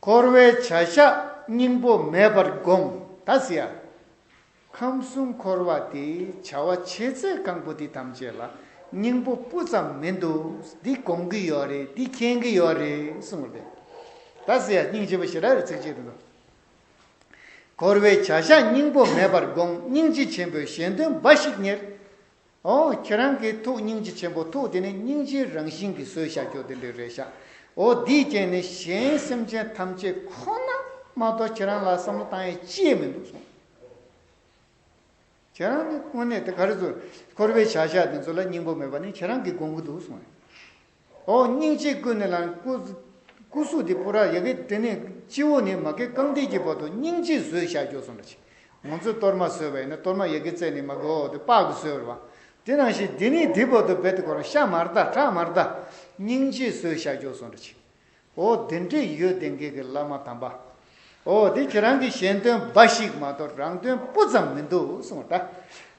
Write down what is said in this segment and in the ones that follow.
འཁོར་བའི་བྱ་བཞག་སྙིང་པོ་མེད་པར་དགོངས། ད་སྲིད་ཡར། ཁམས་གསུམ་འཁོར་བ་འདི་བྱ་བ་བྱེད་ཚད་གང་པོ་འདི་ཐམས་ཅད་ལ་སྙིང་པོ་སྤུ་ཙམ་མི་འདུག་འདི་དགོངས་ཀྱི་ཡོད་རེད་འདི་མཁྱེན་གྱི་ཡོད་རེད་གསུངས་པ་དེ། ད་སྲིད་ཡར་སྙིང་རྗེ་པོ་ཞེས་ར་རེ་ཚིགས་བཅད་དུ་འདུག། འཁོར་བའི་བྱ་བཞག་སྙིང་པོ་མེད་པར་དགོངས་སྙིང་རྗེ་ཆེན་པོས་གཞན་དོན་འབའ་ཞིག་གཉེར། ཨོ། ཁྱེད་རང་གིས་ཐུགས་སྙིང་རྗེ་ཆེན་པོ་ཐུགས་དེ་ནི་སྙིང་རྗེའི་རང་བཞིན་གྱི་སྲོལ་བཞག་རྒྱུ་དེ་འདྲས་རེད་ཤག་ཨོ། དེའི་རྐྱེན་ནི་གཞན་སེམས་ཅན་ཐམས་ཅད་ཁོ་ན་མ་གཏོགས་ཁྱེད་རང་ལ་བསམ་བློ་བཏང་ཡས་ཅིས་མི་འདུག་གསུངས། ཁྱེད་རང་ནི་དངོས་གནས་དེ་ག་རེ་ཚོར། འཁོར་བའི་བྱ་བཞག་དེ་ཚོ་ལ་སྙིང་པོ་མེད་པ་ནི་ཁྱེད་རང་གིས་དགོངས་ཀྱི་འདུག་གསུངས། ཨོ་སྙིང་རྗེ་སྐུ་ནི་ལ། སྐུ་གཟུགས་འདི་པུ་ར་ཡ་གི་སྟེ་ནི་སྤྱི་བོ་ནས་མ་གི་རྐང་མཐིལ་གྱི་བར་དུ་སྙིང་རྗེས་གཟོད་བཞག་རྒྱུ་གསུངས་པ་ཅིག། ངོ་ཚོས་གཏོར་མ་གསོལ་བས་ནི་གཏོར་མ་ཡ་གི་རྩེ་ནས་མ་གི་འོག་ཏུ་དཔག་གིས་གསོལ་བ། དེ་ནང་བཞིན་འདི་ནི་འདི་བར་དུ་རྦད་དེ་བསྐོར་བ་ཤ་མར་བལྟ་ཁྲག་མར་བལྟ། སྙིང་རྗེས་གཟོད་བཞག་རྒྱུ་གསུངས་པ་ཅིག། འོ་དེ་འདྲས་ཡོད་དེ་འགས་ཀྱི་བླ་མ་དམ་པ། འོ་དེ་ཁྱེད་རང་གི་གཞན་དོན་འབའ་ཞིག་མ་གཏོགས་རང་དོན་སྤུ་ཙམ་མི་འདུག་གསུངས་བ་དང།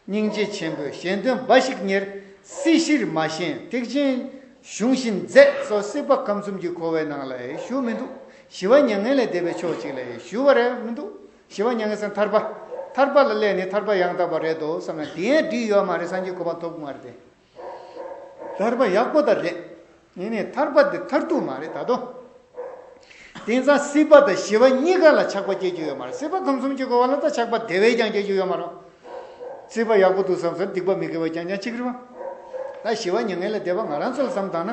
སྙིང་རྗེ་ཆེན་པོས་གཞན་དོན་འབའ་ཞིག་གཉེར། སྲིད་གཞིར་མ་ཞེན་ཐེག་ཆེན་གཞུང་བཞིན་མཛད། སོ་སྲིད་པ་ཁམས་གསུམ་གྱི་འཁོར་བའི་ནང་ལ་ཡེ་ཞུ་མི་འདུག་ཞི་བ་མྱ་ངན་ལས་འདས་པའི་ཕྱོགས་གཅིག་ལ་ཡེ་ཞུ་བ་རེ་མི་འདུག་ཞི་བ་མྱ་ངན་སེམས་ཐར་པ། ཐར་པ་ལ་སླད་ནི་ཐར་པ་ཡང་དག་པ་རེད་དོ་བསམ་ན་དེའི་འགྲིག་ཡོད་མ་རེད་སངས་རྒྱས་གོ་འཕང་ཐོབ་དགོས་མ་རེད་དེ། ཐར་པ་ཡག་པོ་དང་རེད། ངས་ནི་ཐར་པ་འདི་མཐར་ཐུག་མ་རེད་ད་དོ། དེང་སང་སྲིད་པ་དང་ཞི་བ་གཉིས་ཀ་ལ་ཆགས་པ་སྐྱེ་རྒྱུ་ཡོད་མ་རེད་སྲིད་པ་ཁམས་གསུམ་གྱི་འགོ་བ་ལ་དང་ཆགས་པ་དེ་བས་ཀྱང་སྐྱེ་རྒྱུ་ཡོད་མ་རུང། སྲིད་པ་ཡག་པོ་འདུག་བསམ་སར་སྡིག་པ་མི་དགེ་བ་རྐྱང་རྐྱང་ཅིག་རེད་བ། ད་ཞི་བ་མྱ་ངན་ལས་འདས་པ་ང་རང་ཚོ་ལ་བསམ་དང་ན།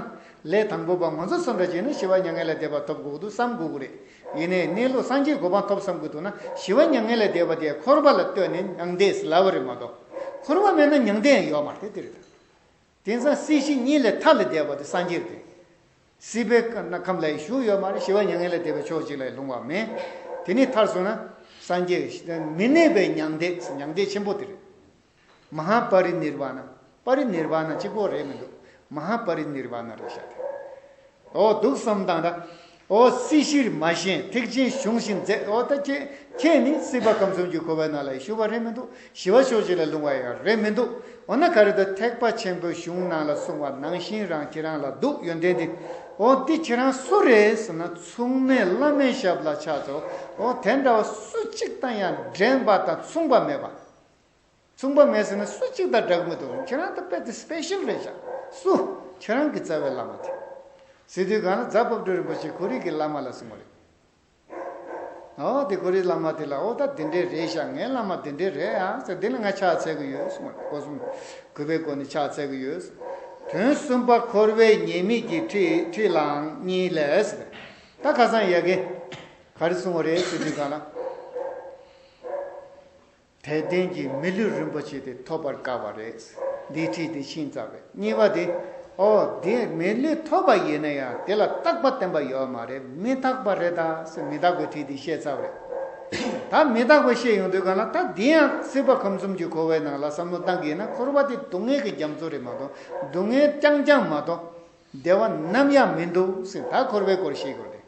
ལས་དང་པོ་པ་ང་ཚོ་སོ་འདྲ་བྱས་ན་ཞི་བ་མྱ་ངན་ལས་འདས་པ་ཐོབ་དགོས་ཀྱི་འདུག་བསམ་དགོས་ཀྱི་རེད། ཡེ་ནས་གནས་ལུགས་སངས་རྒྱས་གོ་འཕང་ཐོབ་བསམ་གྱི་འདུག་ན་ཞི་བ་མྱ་ངན་ལས་འདས་པ་དེ་འཁོར་བ་ལ་ལྟོས་ནས་མྱང་འདས་སུ་ལ་བ་རེད་མ་གཏོགས་འཁོར་བ་མེད་ན་མྱང་འདས་ཡང་ཡོད་མ་རེད་དེ་རེད། དེང་སང་སྲིད་ཞི་གཉིས་ལས་མཐའ་ལས་འདས་པ་དེ་སངས་རྒྱས་དེ། སྲིད་པའི་ཁམས་ལ་ཡི་ཞུགས་ཡོད་མ་རེད་ཞི་བ་མྱ་ངན་ལས་འདས་པའི་ཕྱོགས་གཅིག་ལ་ཡི་ལྷུང་བ་མེད། དེ་ནས་མཐར་སོང་ན་སངས་རྒྱས་མི་གནས་པའི་མྱང་འདས་མྱང་འདས་ཆེན་པོ་དེ་རེད། མ་ཧཱ་པ་རི་ནིར་བ་ན། པ་རི་ནིར་བ་ན་གཅིག་པོ་རེད་མི་འདུག་མ་ཧཱ་པ་རི་ནིར་བ་ན་རེད་བཞག་དེ། འོ་སྡུག་བསམ་དང་འདྲ། འོ་སྲིད་ཞིར་མ་ཞེན་ཐེག་ཆེན་གཞུང་བཞིན་མཛད་འོ་ད་ཁྱེད་ཁྱེད་ནི་སྲིད་པ་ཁམས་གསུམ་གྱི་འཁོར་བའི་ནང་ལ་ཞུགས་པ་རེད་མི་འདུག་ཞི་བ་ཕྱོགས་གཅིག་ལ་ལྷུང་བ་ཡང་རེད་མི་འདུག་འོ་ན་ག་རེ་འདུག་ཐེག་པ་ཆེན་པོའི་གཞུང་ནང་ལ་གསུང་བ་ནང་བཞིན་རང་ཁྱེད་རང་ལ་འདུག་ཡོན་ཏན་འདི། འོ་འདི་ཁྱེད་རང་སུ་རེད་ཟེར་ན་མཚུངས་མེད་བླ་མའི་ཞབས་ལ་ཕྱག་འཚལ་འོ་དེ་འདྲ་བ་སུ་གཅིག་དང་ཡང་འགྲན་པ་དང་མཚུངས་པ་མེད་པ། མཚུངས་པ་མེད་ཟེར་ན་སུ་གཅིག་དང་འདྲ་གི་མི་འདུག་གམ་ཁྱེད་རང་ད་དཔེ་དེ Special རེད་ཤག་སུ། ཁྱེད་རང་གི་རྩ་བའི་བླ་མ་དེ། སི་ཏུའི་སྒང་ལ་རྫ་བབས་སྒྲོལ་རིན་པོ་ཆེ་གྷོ་རིག་གི་བླ་མ་ལ་སོང་བ་རེད། ཨོ་དེ་གྷོ་རིག་བླ་མ་དེ་ལ་ཨོ་ད་དེ་འདྲས་རེད་ཤག་ངའི་བླ་མ་དེ་འདྲས་རེད་ཨ་ཟེར་དེ་ལ་ང་ཕྱག་འཚལ་གི་ཡོད་གསུངས་བ་རེད་སྒོ་གསུམ་གུས་པའི་སྒོ་ནས་ཕྱག་འཚལ་གི་ཡོད་གསུངས། དོན་གསུམ་པ་འཁོར་བའི་ཉེས་དམིགས་ཀྱི་ཁྲིད་ལའང་གཉིས་ལས། ད་ཁ་སང་ཡལ་གས་ག་རེ་སོང་བ་རེད་སི་ཏུའི་སྒང་ལ། དད་ལྡན་གྱི་མི་ལུས་རིན་པོ་ཆེ་དེ་ཐོབ་པར་དཀའ་བ་རེད། འདིའི་ཁྲིད་དེ་ཤིང་རྩ་རེད། གཉིས་པ་དེ། ཨོ། དེ་མི་ལུས་ཐོབ་པ་ཡིན་ན་ཡང་དེ་ལ་རྟག་པ་བསྟན་པ་ཡོད་མ་རེད་མི་རྟག་པ་རེད་ད་སེ་མི་རྟག་པའི་ཁྲིད་དེ་བཤད་ཚར་བ་རེད། ད་མི་རྟག་པ་བཤད་ཡོང་དུས་ག་ལ་ད་དེ་ཡང་སྲིད་པ་ཁམས་གསུམ་གྱི་འཁོར་བའི་ནང་ལ་བསམ་བློ་གཏང་གི་ཡིན་ན་འཁོར་བ་དེ་སྡུག་བསྔལ་གྱི་རྒྱ་མཚོ་རེད་མ་གཏོགས་སྡུག་བསྔལ་རྐྱང་རྐྱང་མ་གཏོགས་བདེ་བ་ནམ་ཡང་མི་འདུག་སེ་ད་འཁོར་བའི་སྐོར་བཤད་དགོས་རེད།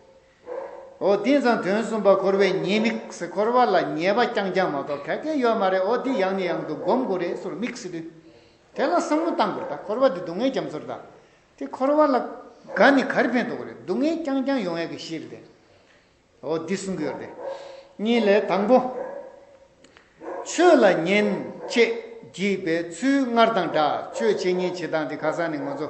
འོ་དེ་ཙང་དོན་གསུམ་པ་འཁོར་བའི་ཉེས་དམིགས་སེ་འཁོར་བ་ལ་ཉེས་པ་རྐྱང་རྐྱང་མ་གཏོགས་གལ་ཆེན་ཡོད་མ་རེད་འོ་དེ་ཡང་ནས་ཡང་དུ་སྒོམ་དགོས་རེད་སོར་དམིགས་སེ་དུས་དེ་ལ་བསམ་བློ་གཏང་དགོས་རེད་ད་འཁོར་བ་དེ་སྡུག་བསྔལ་རྒྱ་མཚོ་རེད་ད་དེ་འཁོར་བ་ལ་དགའ་ནས་གར་ཕན་ཐོགས་རེད་སྡུག་བསྔལ་རྐྱང་རྐྱང་ཡོང་ཡག་གི་གཞི་རེད་འོ་དེ་གསུང་གི་ཡོད་རེད་གཉིས་ལས་དང་པོ། ཆོས་ལ་ཉན། ཅེས་བགྱིས་པའི་ཚུལ་སྔར་དང་འདྲ་ཆོས་བྱེད་ཉན་བྱེད་དང་དེ་ཁ་སང་ནས་ངོ་ཚོ།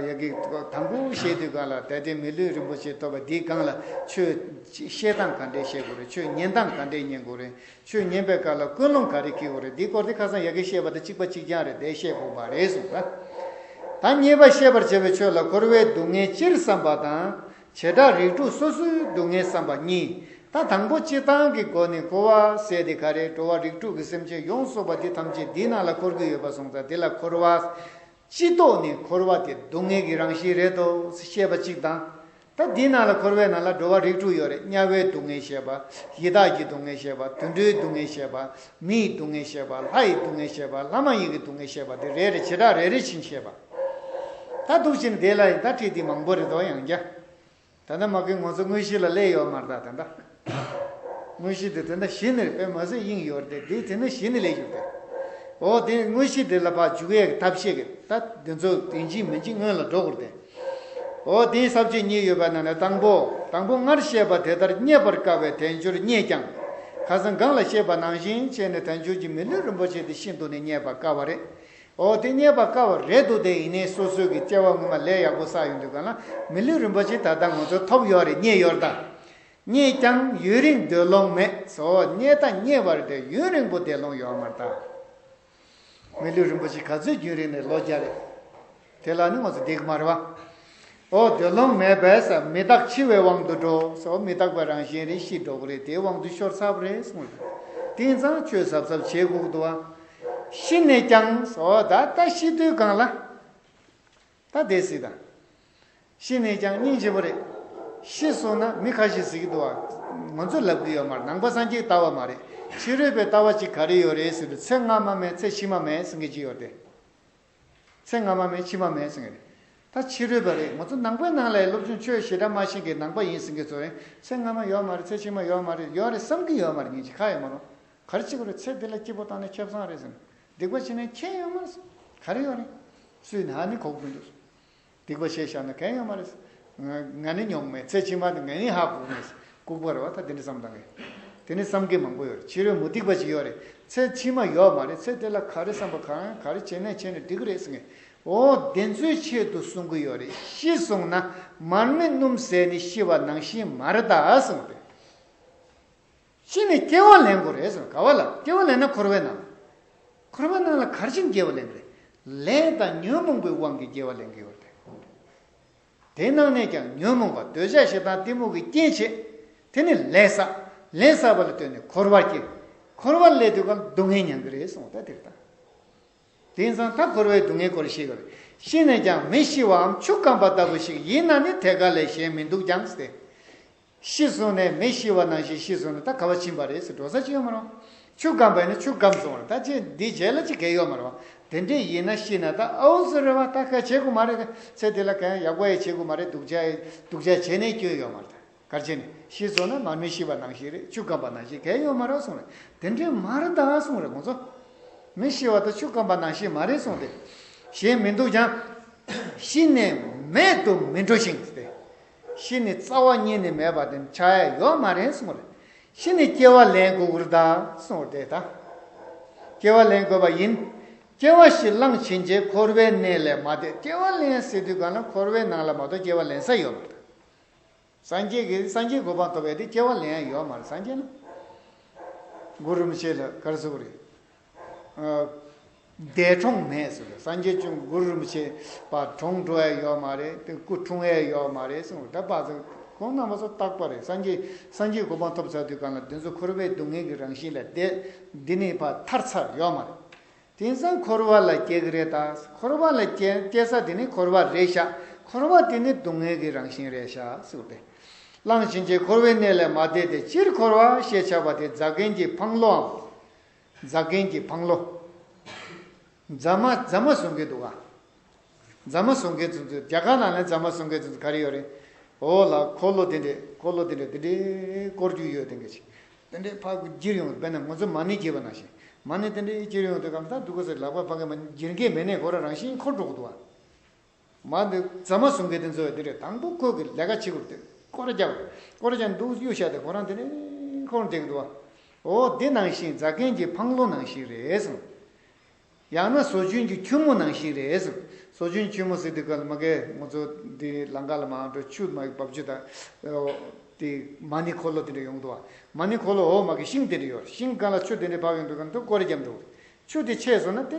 ཡ་གི། དང་པོ་བཤད་དུས་གང་ལ་དད་དེ་མི་ལུས་རིན་པོ་ཆེ་ཐོབ་པ་འདིས་གང་ལ་ཆོས་བཤད་སྟངས་ག་འདྲས་བཤད་དགོས་རེད་ཆོས་ཉན་སྟངས་ག་འདྲས་ཉན་དགོས་རེད་ཆོས་ཉན་པའི་སྐབས་ལ་ཀུན་སློང་ག་རེ་ཁེལ་དགོས་རེད་འདི་སྐོར་དེ་ཁ་སང་ཡ་གི་བཤད་པ་དང་གཅིག་པ་གཅིག་རྐྱང་རེད་དེ་བཤད་དགོས་པ་རེད་གསུངས། ད་ངེས་པ་ཤེས་པར་བྱ་བའི་ཆོས་ལ་འཁོར་བའི་སྡུག་བསྔལ་སྤྱིར་བསམ་པ་དང་བྱེ་བྲག་རིགས་དྲུག་སོ་སོའི་སྡུག་བསྔལ་བསམ་པ་གཉིས། ད་དང་པོ་སྤྱི་བཏང་གི་སྒོ་ནས་གོ་བ་བསལ་ཏེ་ག་རེ་འགྲོ་བ་རིགས་དྲུག་གི་སེམས་ཅན་ཡོངས་གསོག་པ་དེ་ཐམས་ཅད་འདི་ན་ལ་འཁོར་གྱི་ཡོད་པར་སོང་ཙང་དེ་ལ་འཁོར་བ། སྤྱི་ལྡོག་ནས་འཁོར་བ་དེ་སྡུག་བསྔལ་གྱི་རང་བཞིན་རེད་དོ་ཞེས་པ་གཅིག་དང། ད་འདི་ན་ལ་འཁོར་བའི་ནང་ལ་འགྲོ་བ་རིགས་དྲུག་ཡོད་རེད་དམྱལ་བའི་སྡུག་བསྔལ་ཞེས་པ། ཡི་དྭགས་ཀྱི་སྡུག་བསྔལ་ཞེས་པ་དུད་འགྲོའི་སྡུག་བསྔལ་ཞེས་པ། མིའི་སྡུག་བསྔལ་ཞེས་པ་ལྷ་ཡི་སྡུག་བསྔལ་ཞེས་པ་ལྷ་མ་ཡིན་གྱི་སྡུག་བསྔལ་ཞེས་པ་དེ་རེ་རེ་བྱེ་བྲག་རེ་རེ་བཞིན་བཤད་པ། ད་སྡུག་ཅིང་བདེ་ལ་ཡིན་ད་བཀྲིས་བདེ་མང་པོ་རེ་དོགས་ཡང་རྒྱ། ད་ད་མ་གིན་ངོ་ཚོ་དངོས་གཞི་ལ་ལས་ཡོད་མར་ད་ད་ད། དངོས་གཞི་འདི་དེ་འདྲ་གཞི་ནི་དཔེ་མ་ཟད་དབྱིངས་ཡོད་རེད་དེ་དེ་ནི་གཞི་ནི་ལས་ཞུགས་ཏེ། འོ་དེ་དངོས་གཞི་འདི་ལ་བག་འཇུག་ཡག་ཐབས་ཤེས་གིས་ད་འདི་ཚོ་དོན་གྱིས་མིན་གྱིས་སྔོན་ལ་འགྲོ་དགོས་ཏེ། འོ་དེའི་ཟབ་ཆོས་གཉིས་ཡོད་པ་ན་ན་དང་པོ་དང་པོ་སྔར་བཤད་པ་དེ་ལྟར་རྙེད་པར་དཀའ་བའི་དལ་འབྱོར་རྙེད་ཀྱང། ཁ་སང་སྒང་ལ་བཤད་པ་ནང་བཞིན་བྱས་ནས་དལ་འབྱོར་གྱི་མི་ལུས་རིན་པོ་ཆེ་དེ་ཤིན་ཏུ་ནས་རྙེད་པར་དཀའ་བ་རེད། ཨོ་དེ་རྙེད་པ་དཀའ་བ་རེད་འདུག་དེ་ཡིན་ནའི་སོ་སོའི་གི་སྐྱེ་བ་ངོ་མ་ལས་ཡག་པོ་བསགས་ཡོད་འདུག་ག་ལ་མི་ལུས་རིན་པོ་ཆེ་ད་ལྟ་ང་ཚོ་ཐོབ་ཡོད་རེད་རྙེད་ཡོད་རེད་ད། རྙེད་ཀྱང་ཡུན་རིང་སྡོད་ལོང་མེད་བཟོ་རྙེད་ད་རྙེད་པ་རེད་དེ་ཡུན་རིང་པོ་བསྡད་ལོང་ཡོད་མ་རེད་ད། མི་ལུས་རིན་པོ་ཆེ་ག་ཚོད་རྒྱུན་རིང་ནས་ལོ་བརྒྱ་རེད་དེ་ལ་ནི་ང་ཚོ་བསྡད་གི་མ་རེད་བ། འོ་དོད་ལོང་མེད་པས་ས་མི་རྟག་འཆི་བའི་དབང་དུ་འགྲོ་སོ་མི་རྟག་པའི་རང་བཞིན་རེ་ཤི་འགྲོ་གི་རེད་དེའི་དབང་དུ་ཤོར་ཚར་བ་རེད་གསུངས་ལ། དེང་སང་ཆོས་ཟབ་ཟབ་བྱེད་སྒུག་འདུག་ཨ། ཤི་ནས་ཀྱང་སོ་ད་ལྟ་ཤི་དུས་གང་ལ། ད་བསྡད་སྲིད་ད། ཤི་ནས་ཀྱང་སྙིང་རྗེ་བོ་རེད། ཤི་སོང་ན་མི་ཁ་ཤི་ཟིག་འདུག་ཨ། ང་ཚོས་ལབ་གི་ཡོད་མ་རེད་ནང་པ་སངས་རྒྱས་ལྟ་བ་མ་རེད་ཕྱི་རོལ་པའི་ལྟ་བ་ཅིག་ག་རེ་ཡོད་རེད་ཟེར་དུས་ཚེ་སྔ་མ་མེད་ཚེ་ཕྱི་མ་མེད་ཟེར་གི་ཅིག་ཡོད་དེ། ཚེ་སྔ་མ་མེད་ཕྱི་མ་མེད་ཟེར་གྱི་རེད། ད་ཕྱི་རོལ་པ་རེད་ང་ཚོ་ནང་པའི་ནང་ལའི་སློབ་ཆུང་ཆོས་ཞེ་དྲག་མ་ཞིག་གི་ནང་པ་ཡིན་ཟེར་མཁན་ཚོ་རེད་ཚེ་སྔ་མ་ཡོད་མ་རེད་ཚེ་ཕྱི་མ་ཡོད་མ་རེད་ཡོད་རེད་བསམ་གྱི་ཡོད་མ་རེད་ཉིན་ཞིག་ཁ་ཡོད་མ་རུང་ག་རེ་བྱེད་དགོས་རེད་ཚེ་འདི་ལ་སྐྱིད་པོ་བཏང་ནས་ཁེབས་བཟང་རེད་ཟེར་ནས་སྡིག་པ་བྱེད་ནས་མཁྱེན་ཡོད་མ་རེད་ག་རེ་ཡོད་རེད་སུས་ནའང་མི་གོ་གི་མི་འདུག་སྡིག་པ་བྱས་བཞག་ན་གན་ཡང་མ་རེད། ང་ནི་ཉོག་མའི་ཚེ་ཕྱི་མ་དེ་ང་ཡིན་ཧ་གོ་ངེས། ལྐུགས་པར་བ་ད་དེ་འདྲ་བསམ་དང་གི། དེ་ནི་བསམ་མཁན་མང་པོ་ཡོད་རེད་ཕྱི་རོལ་མུ་སྟེགས་པ་ཅིག་ཡོད་རེད་ཚེ་ཕྱི་མ་ཡོད་མ་རེད་ཚེ་དེ་ལ་ག་རེ་བསམ་པ་གང་ཡང་ག་རེ་བྱས་མེད་བྱས་ནས་འགྲིག་གི་རེད་ཟེར་ངེས། འོ་བདེན་འཚོལ་ཆེད་དུ་གསུང་གི་ཡོད་རེད་ཤི་སོང་ན་མར་མེ་སྣུམ་ཟད་ནི་ཤི་བ་ནང་བཞིན་མ་རེད་ད་ཟེར་བ་དེ། གཅིག་ནི་སྐྱེ་བ་ལེན་དགོས་རེད་ཟེར་ག་བ་ལ་སྐྱེ་བ་ལེན་ན་འཁོར་བའི་ནང་ལ། འཁོར་བའི་ནང་ལ་གར་ཕྱིན་སྐྱེ་བ་ལེན་རེད། ལས་དང་ཉོན་མོངས་པའི་དབང་གིས་སྐྱེ་བ་ལེན་གི་ཡོད་རེད། དེའི་ནང་ནས་ཀྱང་ཉོན་མོངས་པ་འདོད་ཆགས་ཞེ་སྡང་གཏི་མུག་གི་རྐྱེན་བྱེད། དེ་ནི་ལས་བསགས། ལས་བསགས་པ་ལ་ལྟོས་ནས་འཁོར་བར་སྐྱེ། འཁོར་བ་ལས་དུས་གང་སྡུག་བསྔལ་མྱང་གི་རེད་གསུངས་ད་དེ་ལྟ། དེང་སང་ད་འཁོར་བའི་སྡུག་བསྔལ་སྐོར་ཤེས་གི་རེད། ཤེས་ནས་ཀྱང་མི་ཤི་བའམ་ཆུ་སྐམ་པ་ལྟ་བུ་ཞིག་ཡིན་ན་ནི་ཐད་ཀར་ལས་གཞན་མི་འདུག་ཀྱང་སྲིད། ཤི་སོང་ནས་མི་ཤི་བ་ནང་བཞིན་ཤི་སོང་ནས་ད་ག་བ་ཕྱིན་པ་རེད་ཟེར་འགྲོ་ས་ཅི་ཡོད་མ་རུང། ཆུ་སྐམ་པས་ནི་ཆུ་སྐམ་སོང་རེད་ད་ཅི་འདི་བྱས་ལ་ཅི་གལ་ཡོད་མ་རུང། དེ་འདྲས་ཡིན་ན་ཤི་ན་ད་ཨའུ་ཟེར་རེད་བ་ད་གལ་བྱེད་དགོས་མ་རེད་དེ་ཚེ་འདི་ལ་གལ་ཡག་པོ་ཡེ་བྱེད་དགོས་མ་རེད་སྡུག་ཅག་སྡུག་ཅག་བྱས་ནས་སྐྱོན་ཡོད་མ་རེད་གལ་ཆེ་ནི་ཤི་སོང་ན་མ་མི་ཤི་བ་ནང་བཞིན་རེད་ཆུ་སྐམ་པ་ནང་བཞིན་གལ་ཡོད་མ་རུང་སོང་རེད་དེ་འདྲས་མ་རེད་ད་སོང་རེད་ཁོང་ཚོ། མི་ཤི་བ་ད་ཆུ་སྐམ་པ་ནང་བཞིན་མ་རེད་སོང་སྟེ། གཞན་མི་འདུག་ཀྱང། ཤི་ནས་མེད་དུ་མི་འགྲོ་ཞིང་སྟེ། ཤི་ནས་རྩ་བ་རྙེད་ནས་མེད་པ་དེ་འཆའ་ཡས་ཡོག་མ་རེད་སོང་རེད། ཤི་ནས་སྐྱེ་བ་ལེན་དགོས་གུར་དང་སོང་རེད་ད། སྐྱེ་བ་ལེན་དགོས་པ་ཡིན། སྐྱེ་བ་ཞིག་བླངས་ཕྱིན་རྗེས་འཁོར་བའི་གནས་ལས་མ་འདས་སྐྱེ་བ་ལེན་སའི་དུས་གང་ན་འཁོར་བའི་ནང་ལ་མ་གཏོགས་སྐྱེ་བ་ལེན་ས་ཡོད་མ་རེད། སངས་རྒྱས་ཀྱི་སངས་རྒྱས་གོ་འཕང་ཐོབ་པའི་དུས་སྐྱེ་བ་ལེན་ཡས་ཡོག་མ་རེད་སངས་རྒྱས་ལ། གུར་རུམ་ཤེས་ལ་གར་གཟུགས་རེད། འདས་གྲོངས་མེད་གསུངས་པས་སངས་རྒྱས་བྱུང་གུ་རུ་མི་ཆེ་བ་གྲོངས་འགྲོ་ཨེ་ཡོད་མ་རེད་དེ་སྐུ་འཁྲུངས་ཨེ་ཡོད་མ་རེད་གསུངས་པས་ད་བར་དུ་ཁོང་རྣམ་པ་ཚོ་རྟག་པ་རེད་སངས་རྒྱས་སངས་རྒྱས་གོ་འཕང་ཐོབ་ཚར་དུས་གང་ལ་བདུན་ཚོ་འཁོར་བའི་སྡུག་བསྔལ་གྱི་རང་བཞིན་ལས་འདས་འདི་ནས་བར་ཐར་ས་ཡོད་མ་རེད་དེང་སང་འཁོར་བ་ལ་སྐྱེ་གི་རེད་ད་འཁོར་བ་ལ་སྐྱེ་ས་དེ་ནི་འཁོར་བ་རེད་ཤག་འཁོར་བ་དེ་ནི་སྡུག་བསྔལ་གྱི་རང་བཞིན་རེད་ཤག་གསུངས་པས། གླང་ཕྱིན་ཆད་འཁོར་བའི་གནས་ལས་མ་འདས་ཏེ་སྤྱིར་འཁོར་བ་ཞེས་བྱ་བ་དེ་རྫ་མཁན་གྱི་འཕང་ལོའམ། རྫ་མཁན་གྱི་བང་ལོ། རྫ་མ་རྫ་མ་བཟོ་མཁན་འདུག་ག། རྫ་མ་བཟོ་མཁན་ཚོ་ཚོ་རྒྱ་གར་ནང་ལ་རྫ་མ་བཟོ་མཁན་ཚོ་ཚོ་ག་རེ་ཡོད་རེད། འོ་ལ་འཁོར་ལོ་དེ་འདྲས་འཁོར་ལོ་དེ་འདྲས་དེ་འདྲས་བསྐོར་རྒྱུ་ཡོད་དེ་འདྲས་ཅིག་དེ་འདྲས་ཕ་གི་གྱེར་ཡོང་དཔེར་ན་ང་ཚོ་མ་ཎི་གྱེར་བ་ནང་བཞིན་མ་ཎི་དེ་འདྲས་གྱེར་ཡོང་དུས་གང་ལྟར་འདུག་ག་ཟེར་ལག་པ་ཕ་གི་མ་ཎི་གྱེར་མཁན་མེད་ནས་ཁོ་རང་རང་བཞིན་འཁོར་འགྲོ་གི་འདུག་ག། མ་འདི་རྫ་མ་ཟུང་གི་དེ་འཛོལ་བའི་དེ་རེད་དང་པོ་ཁོ་གི་ལས་ཀ་བྱེད་དགོས་དུས་སྐོར་རྒྱག་དགོས་སྐོར་རྒྱག་འདུག་གཡུ་ཞག་དེ་ཁོ་རང་དེ་རིང་ཁོར་འདེགས་འདུག་བ། འོ་འདི་ནང་བཞིན་རྫ་མཁན་གྱི་ཕང་ལོ་ནང་བཞིན་རེད་གསུངས། ཡང་ན་ཟོ་ཆུན་གྱི་ཁྱུད་མོ་ནང་བཞིན་རེད་གསུངས་ཟོ་ཆུན་ཁྱུད་མོ་ཟེར་དུས་ག་ལ་མ་གལ་ངོ་ཚོ་འདི་ལང་ཀ་ལ་མ་འགྲོ་ཆུ་མ་འབབ་ཆུ་དང་འོ་དེ་མ་ནི་ཁོ་ལོ་དེ་འདྲ་ཡོང་འདུག་བ། མ་ནི་ཁོ་ལོ་འོ་མ་གི་ཤིང་དེ་འདྲ་ཡོད་ཤིང་ག་ལ་ཆུ་དེ་འདྲ་བབས་ཡོང་འདུག་གམ་འདུག་སྐོར་རྒྱབ་འདུག་ཆུ་དེ་ཆད་སོང་ན་དེ་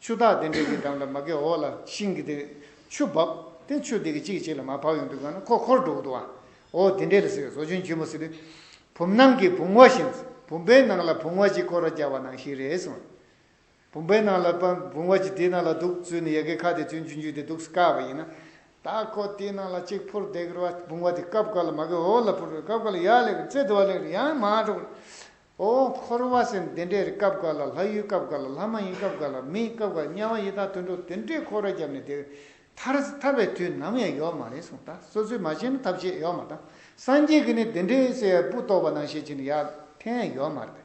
ཆུ་རྟགས་ལྡན་འབྲས་ཀྱི་འགྲམ་ལ་མ་གའི་འོག་ལ་ཤིང་གི་དེ། ཆུ་འབབ། དེ་ཆུ་དེ་གི་གཅིག་གི་གཅིག་ལ་མ་བབས་ཡོང་དུས་གང་ན་ཁོ་ཁོར་འགྲོ་གི་འདུག་ཨ། འོ་དེ་འདྲས་ལ་ཟེར་བས་ཟོ་ཆུན་ཆུན་མོ་ཟེར་དུས། བུམ་ནང་གི་བུང་བ་བཞིན། བུམ་པའི་ནང་ལ་བུང་བ་གཅིག་བསྐོར་ར་རྒྱག་པ་ནང་བཞིན་རེད་གསུངས། བུམ་པའི་ནང་ལ་པན་བུང་བ་གཅིག་དེའི་ནང་ལ་འདུག་ཚུལ་ནི་ཡལ་གའི་ཁ་དེ་ཚུན་ཆུན་ཆུན་དེ་འདུག་དཀའ་བ་ཡིན། ད་ཁོ་དེའི་ནང་ལ་གཅིག་འཕུར་བསྡད་གི་རུ་ཨ་བུང་བ་དེ་སྐབས་འགར་ལ་མ་གའི་འོག་ལ་འཕུར་བས་སྐབས་འགར་ལ་ཡར་ལེགས་རུ་རྩེ་དུ་བ་ལེགས་རུ་ཡང་མ་འགྲོ་གི་རུ། ཨོ། འཁོར་བ་སེམས་འདི་འདྲའི་རི་སྐབས་འགའ་ལ་ལྷ་ཡུལ་སྐབས་འགའ་ལ་ལྷ་མ་ཡིན་སྐབས་འགའ་ལ་མི་ཡིན་སྐབས་འགའ་ལ་དམྱལ་བ་ཡི་དྭགས་དུད་འགྲོ་དེ་འདྲའི་འཁོར་བ་བརྒྱབ་ནས་དེ་ཐར་ཐར་བའི་དུས་ནམ་ཡང་ཡོད་མ་རེད་གསུངས་ད་སོ་སོའི་མ་ཤེས་ན་ཐབས་ཤེས་ཡོད་མ་ད་སངས་རྒྱས་ཀྱི་ནི་དེ་འདྲའི་གསལ་བའི་སྤུ་རྟོགས་པ་ནང་ཤེས་ཀྱི་ནི་ཡག་ཐན་ཡོད་མ་རེད་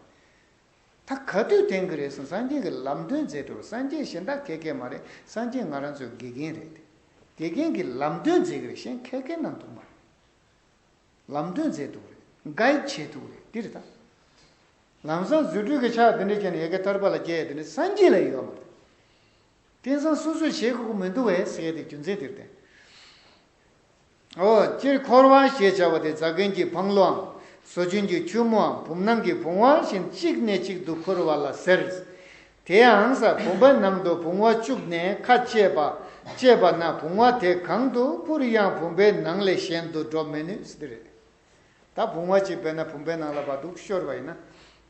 ད་ག་དུས་དེང་གི་རེད་གསུངས་སངས་རྒྱས་ཀྱི་ལམ་སྟོན་མཛད་འགྲོ་སངས་རྒྱས་གཞན་དག་མཁས་མཁས་མ་རེད་སངས་རྒྱས་ང་རང་ཚོའི་དགེ་རྒན་རེད་དེ་དགེ་རྒན་གྱི་ལམ་སྟོན་མཛད་གི་རེད་གཞན་མཁས་མཁས་རྣམས་འདུག་མ་རེད། ལམ་སྟོན་མཛད་འདུག་རེད། Guide། བྱས་འདུག་རེད་འདི་རེད་དཱ། ལམ་བཟང་བརྫུས་སྤྲུལ་གྱི་ཕྱག་དེ་འདྲས་ཀྱང་ཡལ་གའི་ཐར་པ་ལ་བསྐྱལ་དེ་ནི་སངས་རྒྱས་ལ་ཡོད་མ་རེད། དེང་སང་སོ་སོས་བྱེད་དགོས་ཀྱི་མི་འདུག་བས་ཟེར་ཏེ་རྒྱུ་མཚན་དེར་བརྟེན། ཨོ། སྤྱིར་འཁོར་བ་ཞེས་བྱ་བ་དེ་རྫ་མཁན་གྱི་བང་ལོའམ་ཟོ་ཆུན་གྱི་ཁྱུད་མོའམ་བུམ་ནང་གི་བུང་བ་བཞིན་གཅིག་ནས་གཅིག་ཏུ་འཁོར་བ་ལ་ཟེར། དེ་ཡང་ས་བུམ་པའི་ནང་དུ་བུང་བ་བཅུག་ནས་ཁ་བཅད་པ་བཅད་པ་ན་བུང་བ་དེ་གང་དུ་སྤུར་ཡང་བུམ་པའི་ནང་ལས་གཞན་དུ་འགྲོ་མི་ནུས་སྟེ་རེད། ད་བུང་བ་གཅིག་བེད་ན་བུམ་པའི་ནང་ལ་བ་དུག་ཤོར་བ་ཡིན་ན།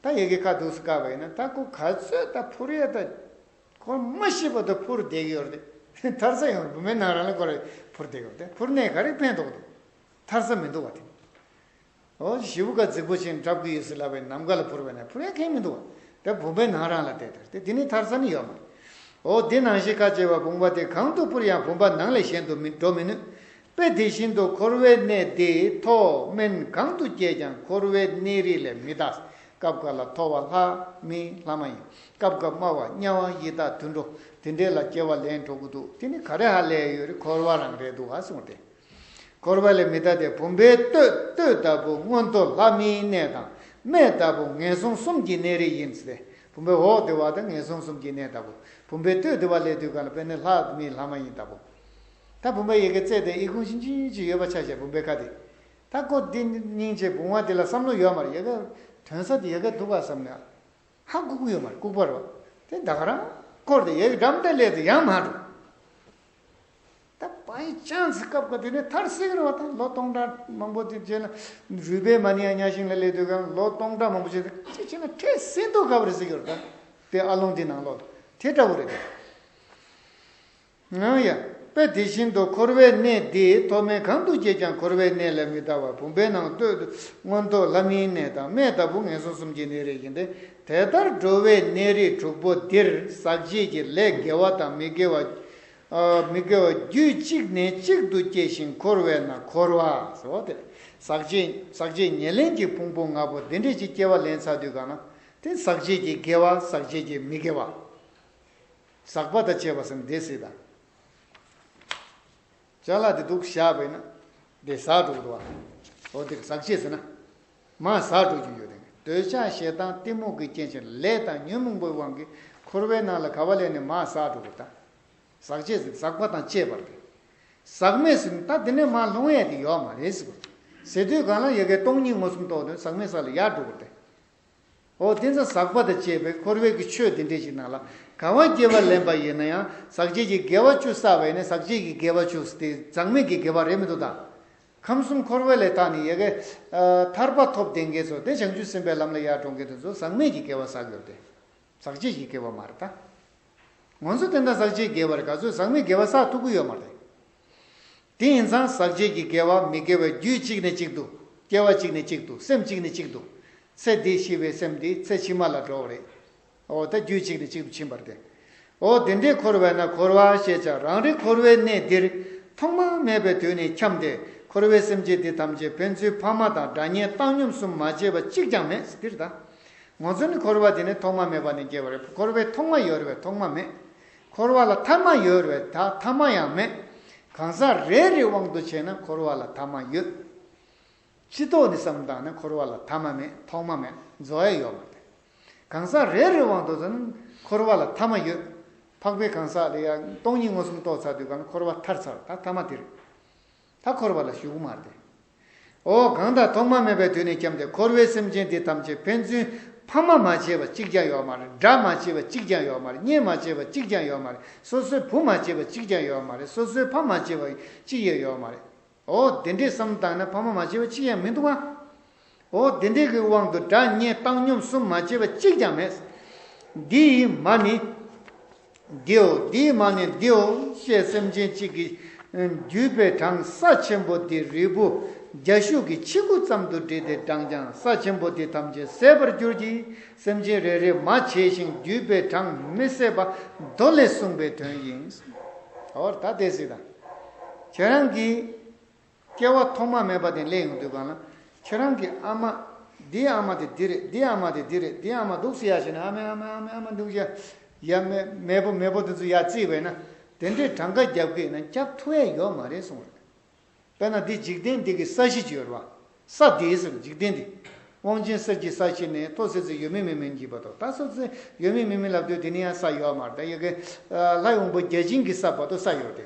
ད་ཡི་གེ་ཁ་དུག་སུ་བཀག་པ་ཡིན་ན་ད་ཁོ་ག་ཚོད་ད་འཕུར་ཡས་ད་ཁོ་མ་ཤི་བ་དུ་འཕུར་བསྡད་ཀྱི་ཡོད་རེད། མཐར་ས་ཡང་བུམ་པའི་ནང་རང་ལས་ཁོ་རེ་འཕུར་བསྡད་ཡོད་དེ་འཕུར་གནས་ག་རེ་ཕན་ཐོགས་འདུག་མཐར་ས་མི་འདུག་བ་དེ། ཨོ་བྱིའུ་སྐར་རྫིག་པོ་ཅན་བྲབ་གི་ཡོད་སྲིད་ལབ་པའི་ནམ་མཁའ་ལ་འཕུར་བས་ན་འཕུར་ཡ་མཁན་མི་འདུག་དེ་བུམ་པའི་ནང་རང་ལ་བལྟས་དར་ཏེ་དེ་ནི་ཐར་ས་ནི་ཡོད་མ་རེད། ཨོ་དེ་ནང་བཞིན་ཁ་བྱེ་བ་བུམ་པ་དེ་གང་དུ་འཕུར་ཡང་བུམ་པ་ནང་ལས་གཞན་དུ་མི་འགྲོ་མི་ནུས་པས་དེ་བཞིན་དུ་འཁོར་བའི་གནས་དེ་མཐོ་དམན་གང་དུ་སྐྱེས་ཀྱང་འཁོར་བའི་གནས་རིས་ལས་མི་འདའ། སྐབས་འགར་ལ་མཐོ་བ་ལྷ་མི་ལྷ་མ་ཡིན། སྐབས་འགར་དམའ་བ་དམྱལ་བ་ཡི་དྭགས་དུད་འགྲོ་དེ་འདྲས་ལ་སྐྱེ་བ་ལེན་འགྲོ་གི་འདུག་དེ་ནི་ག་རེ་ཧ་ལས་ཡོད་རེད་འཁོར་བ་རང་རེད་འདུག་ག་གསུངས་ཏེ། འཁོར་བ་ལས་མི་ཐར་ཏེ་བུམ་པའི་ལྟོས་ལྟོས་ལྟ་བུ་སྔོན་འགྲོ་ལྷ་མིའི་གནས་དང་རྨེ་ལྟ་བུ་ངན་སོང་གསུམ་གྱི་གནས་རིས་ཡིན་ཏེ། བུམ་པའི་འོག་དེ་བ་དང་ངན་སོང་གསུམ་གྱི་གནས་ལྟ་བུ། བུམ་པའི་ལྟོས་དེ་བ་ལས་དུས་གང་ལ་བས་ནི་ལྷ་མིའི་ལྷ་མ་ཡིན་ལྟ་བུ། ད་བུམ་པའི་ཡི་གེ་བཙལ་ཏེ་ཨི་ཁུང་ཤིང་ཅི་ཉུལ་ཅི་ཡོད་པ་ཆ་ཤས་བུམ་པའི་ཁ་དེ་དག་གོ་དེ་སྙིང་རྗེ་བུང་བ་དེ་ལ་བསམ་བློ་ཡོད་མར་ཡོད་ག་དོན་ས་དེ་ཡོད་ག་འདུག་ག་བསམ་ནས་ཧ་ལྐུགས་ཡོད་མར་ལྐུགས་པར་རོ་དེ་དག་རང་བསྐོར་ཏེ་ཡི་གེ་འགྲམ་དེ་ལས་དུ་ཡང་མ་འགྲོ། ད་བ་ཡི་ཅང་ཙི་སྐབས་དགོས་དེ་ནས་མཐར་སེང་གེ་རིང་བ་དང་ལོ་སྟོང་ཕྲག་མང་པོ་དེ་རྗེས་ལ་རུས་པའི་མ་ནི་ཡང་གཉའ་ཤིང་ལ་སླེབས་དུས་ཀྱང་ལོ་སྟོང་ཕྲག་མང་པོ་རྗེས་དེ་ཅི་བྱས་ན་འཕྲལ་སེང་རྡོ་ག་བ་རེ་ཟེར་གྱི་རེད་དཱ་དེ་ཨ་ལུང་དེའི་ནང་ལོགས་དེ་ལྟ་བུ་རེད་དཱ། ཡང་དཔེ་དེ་བཞིན་དུ་འཁོར་བའི་གནས་འདི་ཐོག་མའི་གང་དུ་སྐྱེས་ཀྱང་འཁོར་བའི་གནས་ལས་མི་འདའ་བར་བུམ་པའི་ནང་སྟོད་དུ་མངོན་རྟོགས་ལྷ་མིའི་གནས་དང་མེ་ལྟ་བུ་ངན་སོང་གསུམ་གྱི་གནས་རེ་ཡིན་ཏེ་དེ་ལྟར་འགྲོ་བའི་གནས་རིས་དྲུག་པོ་འདིར་ཟག་བཅས་ཀྱི་ལས་དགེ་བ་དང་མི་དགེ་བ། མི་དགེ་བ་རྒྱུད་གཅིག་ནས་གཅིག་ཏུ་སྐྱེ་ཞིང་འཁོར་བས་ན་འཁོར་བ། ཟག་བཅས་ཉེར་ལེན་གྱི་ཕུང་པོ་ལྔ་པོ་འདི་འདྲེས་ཀྱི་སྐྱེ་བ་ལན་ཚ་དུས་གང་ན་དེ་ཟག་བཅས་ཀྱི་དགེ་བ་ཟག་བཅས་ཀྱི་མི་དགེ་བ། ཟག་པ་དང་བཅས་པ་སམ་སྡེ་སྲིད་དང། བྱ་ལ་དེ་དུག་བཞག་པས་ན་དེ་ཟག་དྲུག་ཏུ་བ། འོ་དེ་ཟག་བཅས་ཟེར་ན། མ་ཟག་སྤྲོ་རྒྱུ་ཡོད་རིང་འདོད་ཆགས་ཞེ་སྡང་གཏི་མུག་གི་རྐྱེན་ཕྱིར་ལས་དང་ཉོན་མོངས་པའི་དབང་གིས་འཁོར་བའི་ནང་ལ་ག་བ་ལས་ནི་མ་ཟག་སྤྲོ་བ་དང། ཟག་བཅས་ཟིན་ཟག་པ་དང་བཅས་པར་ཏེ། ཟག་མེད་ཟིན་ད་དེ་ནས་མ་ལྷུང་ཡས་དེ་ཡོའ་མ་རེད་ཟེར་བ། ཟེར་དུས་གང་ལ་ཡོད་ཀའི་སྟོང་ཉིད་མངོན་སུམ་རྟོགས་དོན་ཟག་མེད་ས་ལ་ཡར་འགྲོ་བར་ཐལ། འོ་དེ་ཚ་ཟག་པ་དང་བཅས་པའི་འཁོར་བའི་ཀྱི་ཆོས་འདི་འདྲའི་ཞིག་ནང་ལ་ག་བ་སྐྱེ་བ་ལེན་པ་ཡིན་ན་ཡང་ཟག་བཅས་ཀྱི་དགེ་བ་བཅུ་བསགས་པས་ནི་ཟག་བཅས་ཀྱི་དགེ་བ་བཅུ་དེ་ཟག་མེད་ཀྱི་དགེ་བ་རེད་མི་འདུག་ད། ཁམས་གསུམ་འཁོར་བའི་ལས་དག་ནི་ཡལ་གའི། ཐར་པ་ཐོབ་བདེན་དགེ་ཚོགས་དེ་བྱང་ཆུབ་སེམས་དཔའི་ལམ་ལ་ཡར་འགྲོ་འགེལ་དུ་འཛུག་ཟག་མེད་ཀྱི་དགེ་བ་ཟག་གོ་བདེ། ཟག་བཅས་ཀྱི་དགེ་བ་མ་རེད་ད། ངོ་ཚོ་བསྟན་དང་ཟག་བཅས་དགེ་བར་ག་ཚོད་ཟག་མེད་དགེ་བ་ཟག་ཐུབ་ཀི་ཡོད་མ་རེད། དེ་ཡིན་ཙང་ཟག་བཅས་ཀྱི་དགེ་བ་མི་དགེ་བའི་རྒྱུད་གཅིག་ནས་གཅིག་ཏུ། སྐྱེ་བ་གཅིག་ནས་གཅིག་ཏུ་སེམས་གཅིག་ནས་གཅིག་ཏུ། ཚེ་འདིས་ཤི་བའི་སེམས་དེ་ཚེ་ཕྱི་མ་ལ་འགྲོ་བ་རེད། འོ་ད་རྒྱུད་གཅིག་ནས་གཅིག་ཏུ་ཕྱིན་པར་ཏེ། འོ་དེ་འདྲས་འཁོར་བས་ན་འཁོར་བ་ཞེས་བྱ་རང་རིག་འཁོར་བའི་གནས་འདིར་ཐོག་མ་མེད་པའི་དུས་ནས་འཁྱམས་ཏེ་འཁོར་བའི་སེམས་ཅན་འདི་ཐམས་ཅད་ཕན་ཚུན་ཕ་མ་དང་དགྲ་གཉེན་བཏང་སྙོམས་གསུམ་མ་བྱས་པ་གཅིག་ཀྱང་མེད་འདིར་ད་ངོ་ཚོ་ནི་འཁོར་བ་དེ་ནི་ཐོག་མ་མེད་པ་ནས་སྐྱེ་བ་རེད་འཁོར་བའི་ཐོག་མ་ཡོད་རེད་ཐོག་མ་མེད་འཁོར་བ་ལ་ཐ་མ་ཡོད་རེད་ད་ཐ་མ་ཡང་མེད་གང་ཟག་རེ་རེའི་དབང་དུ་བྱས་ན་འཁོར་བ་ལ་ཐ་མ་ཡོད། སྤྱི་ཐོག་ནས་བསམ་དང་ནི་འཁོར་བ་ལ་ཐ་མ་མེད་ཐོག་མ་མེད་རྫོགས་ཡ་ཡོད་མ་དེ། གང་ཟག་རེ་རེའི་དབང་དུ་ནི་འཁོར་བ་ལ་ཐ་མ་ཡོད། འཕགས་པའི་གང་ཟག་ལས་ཡང་སྟོང་ཉིད་མངོན་སུམ་རྟོགས་ཚར་དུས་ཀྱང་འཁོར་བ་ཐར་ཚར་ད་ཐ་མ་དེ་རེད། ད་འཁོར་བ་ལ་ཞུགས་མ་དེ། ཨོ་གང་དག་ཐོག་མ་མེད་པའི་དུས་ནས་བསྐྱབས་ཏེ་འཁོར་བའི་སེམས་ཅན་འདི་ཐམས་ཅད་ཕན་ཚུན་ཕ་མ་མ་བྱས་པ་གཅིག་ཀྱང་ཡོད་མ་རེད་དགྲ་མ་བྱས་པ་གཅིག་ཀྱང་ཡོད་མ་རེད་གཉེན་མ་བྱས་པ་གཅིག་ཀྱང་ཡོད་མ་རེད་སོ་སོའི་བུ་མ་བྱས་པ་གཅིག་ཀྱང་ཡོད་མ་རེད་སོ་སོའི་ཕ་མ་བྱས་པ་གཅིག་ཡང་ཡོད་མ་རེད། འོ་དེ་འདྲས་སམ་བརྟགས་ན་ཕ་མ་མ་སྐྱེས་པ་གཅིག་ཡང་མི་འདུག་ཨང། འོ་དེ་འདྲས་ཀྱི་དབང་དུ་སྒྲ་བརྙན་བཏང་སྙོམས་གསུམ་མ་སྐྱེས་པ་གཅིག་ཀྱང་མེད། འདི་ཡི་མ་ནི་འདིའོ་འདི་ཡི་མ་ནི་འདིའོ་ཞེས་སེམས་ཅན་གཅིག་གི་བརྒྱུད་པའི་གྲངས་ས་ཆེན་པོ་དེ་རིལ་བུ་རྒྱ་ཤུག་གི་ཆིག་ཁུ་ཙམ་དུ་བསྒྲིལ་ཏེ་བགྲངས་ཀྱང་ས་ཆེན་པོ་དེ་ཐམས་ཅད་ཟད་པར་འགྱུར་གྱི། སེམས་ཅན་རེ་རེ་མ་བྱས་ཤིང་བརྒྱུད་པའི་གྲངས་མི་ཟད་པ་མདོ་ལས་གསུངས་པའི་དོན་ཡིན། འོར་ད་དེ་སྲིད་དང། ཁྱེད་རང་གིས། སྐྱེ་བ་ཐོག་མ་མེད་པ་དེ་ལས་ཡོང་དུས་གང་ན་ཁྱེད་རང་གི་ཨ་མ། འདིའི་ཨ་མ་དེ་འདི་རེད་འདིའི་ཨ་མ་དེ་འདི་རེད་འདིའི་ཨ་མ་འདུག་སེ་ཡ་ཞེས་ན་ཨ་མའི་ཨ་མའི་ཨ་མའི་ཨ་མ་འདུག་ཡ། ཡ། མེས་པོ་མེས་པོ་དེ་ཚོ་ཡ་བརྩིས་པས་ན་དེ་འདྲའི་གྲངས་ཀ་རྒྱབ་ཀྱི་ན་རྒྱབ་ཐུ་བས་ཡོག་མ་རེད་གསུངས་རེད། དཔེར་ན་འདི་འཇིག་རྟེན་འདི་གི་ས་གཞི་བཅུའི་རོ། ས་འདིའི་ཟེར་འཇིག་རྟེན་འདི། དབང་ཆེན་གསེར་གྱི་ས་གཞི་ནི་ཐོག་སེར་ཚེ་ཡོད་མིན་མེད་མིན་གྱི་བར་དོ་ད་སོགས་ཚེ་ཡོད་མིན་མེད་མིན་ལབ་དུས་དེ་ནི་ཡང་ས་ཡོད་མར་ད་ཡོད་ཀི། ལྷ་ཡོང་བུ་བརྒྱ་བྱིན་གྱི་ས་བར་དོ་ས་ཡོད་དེ།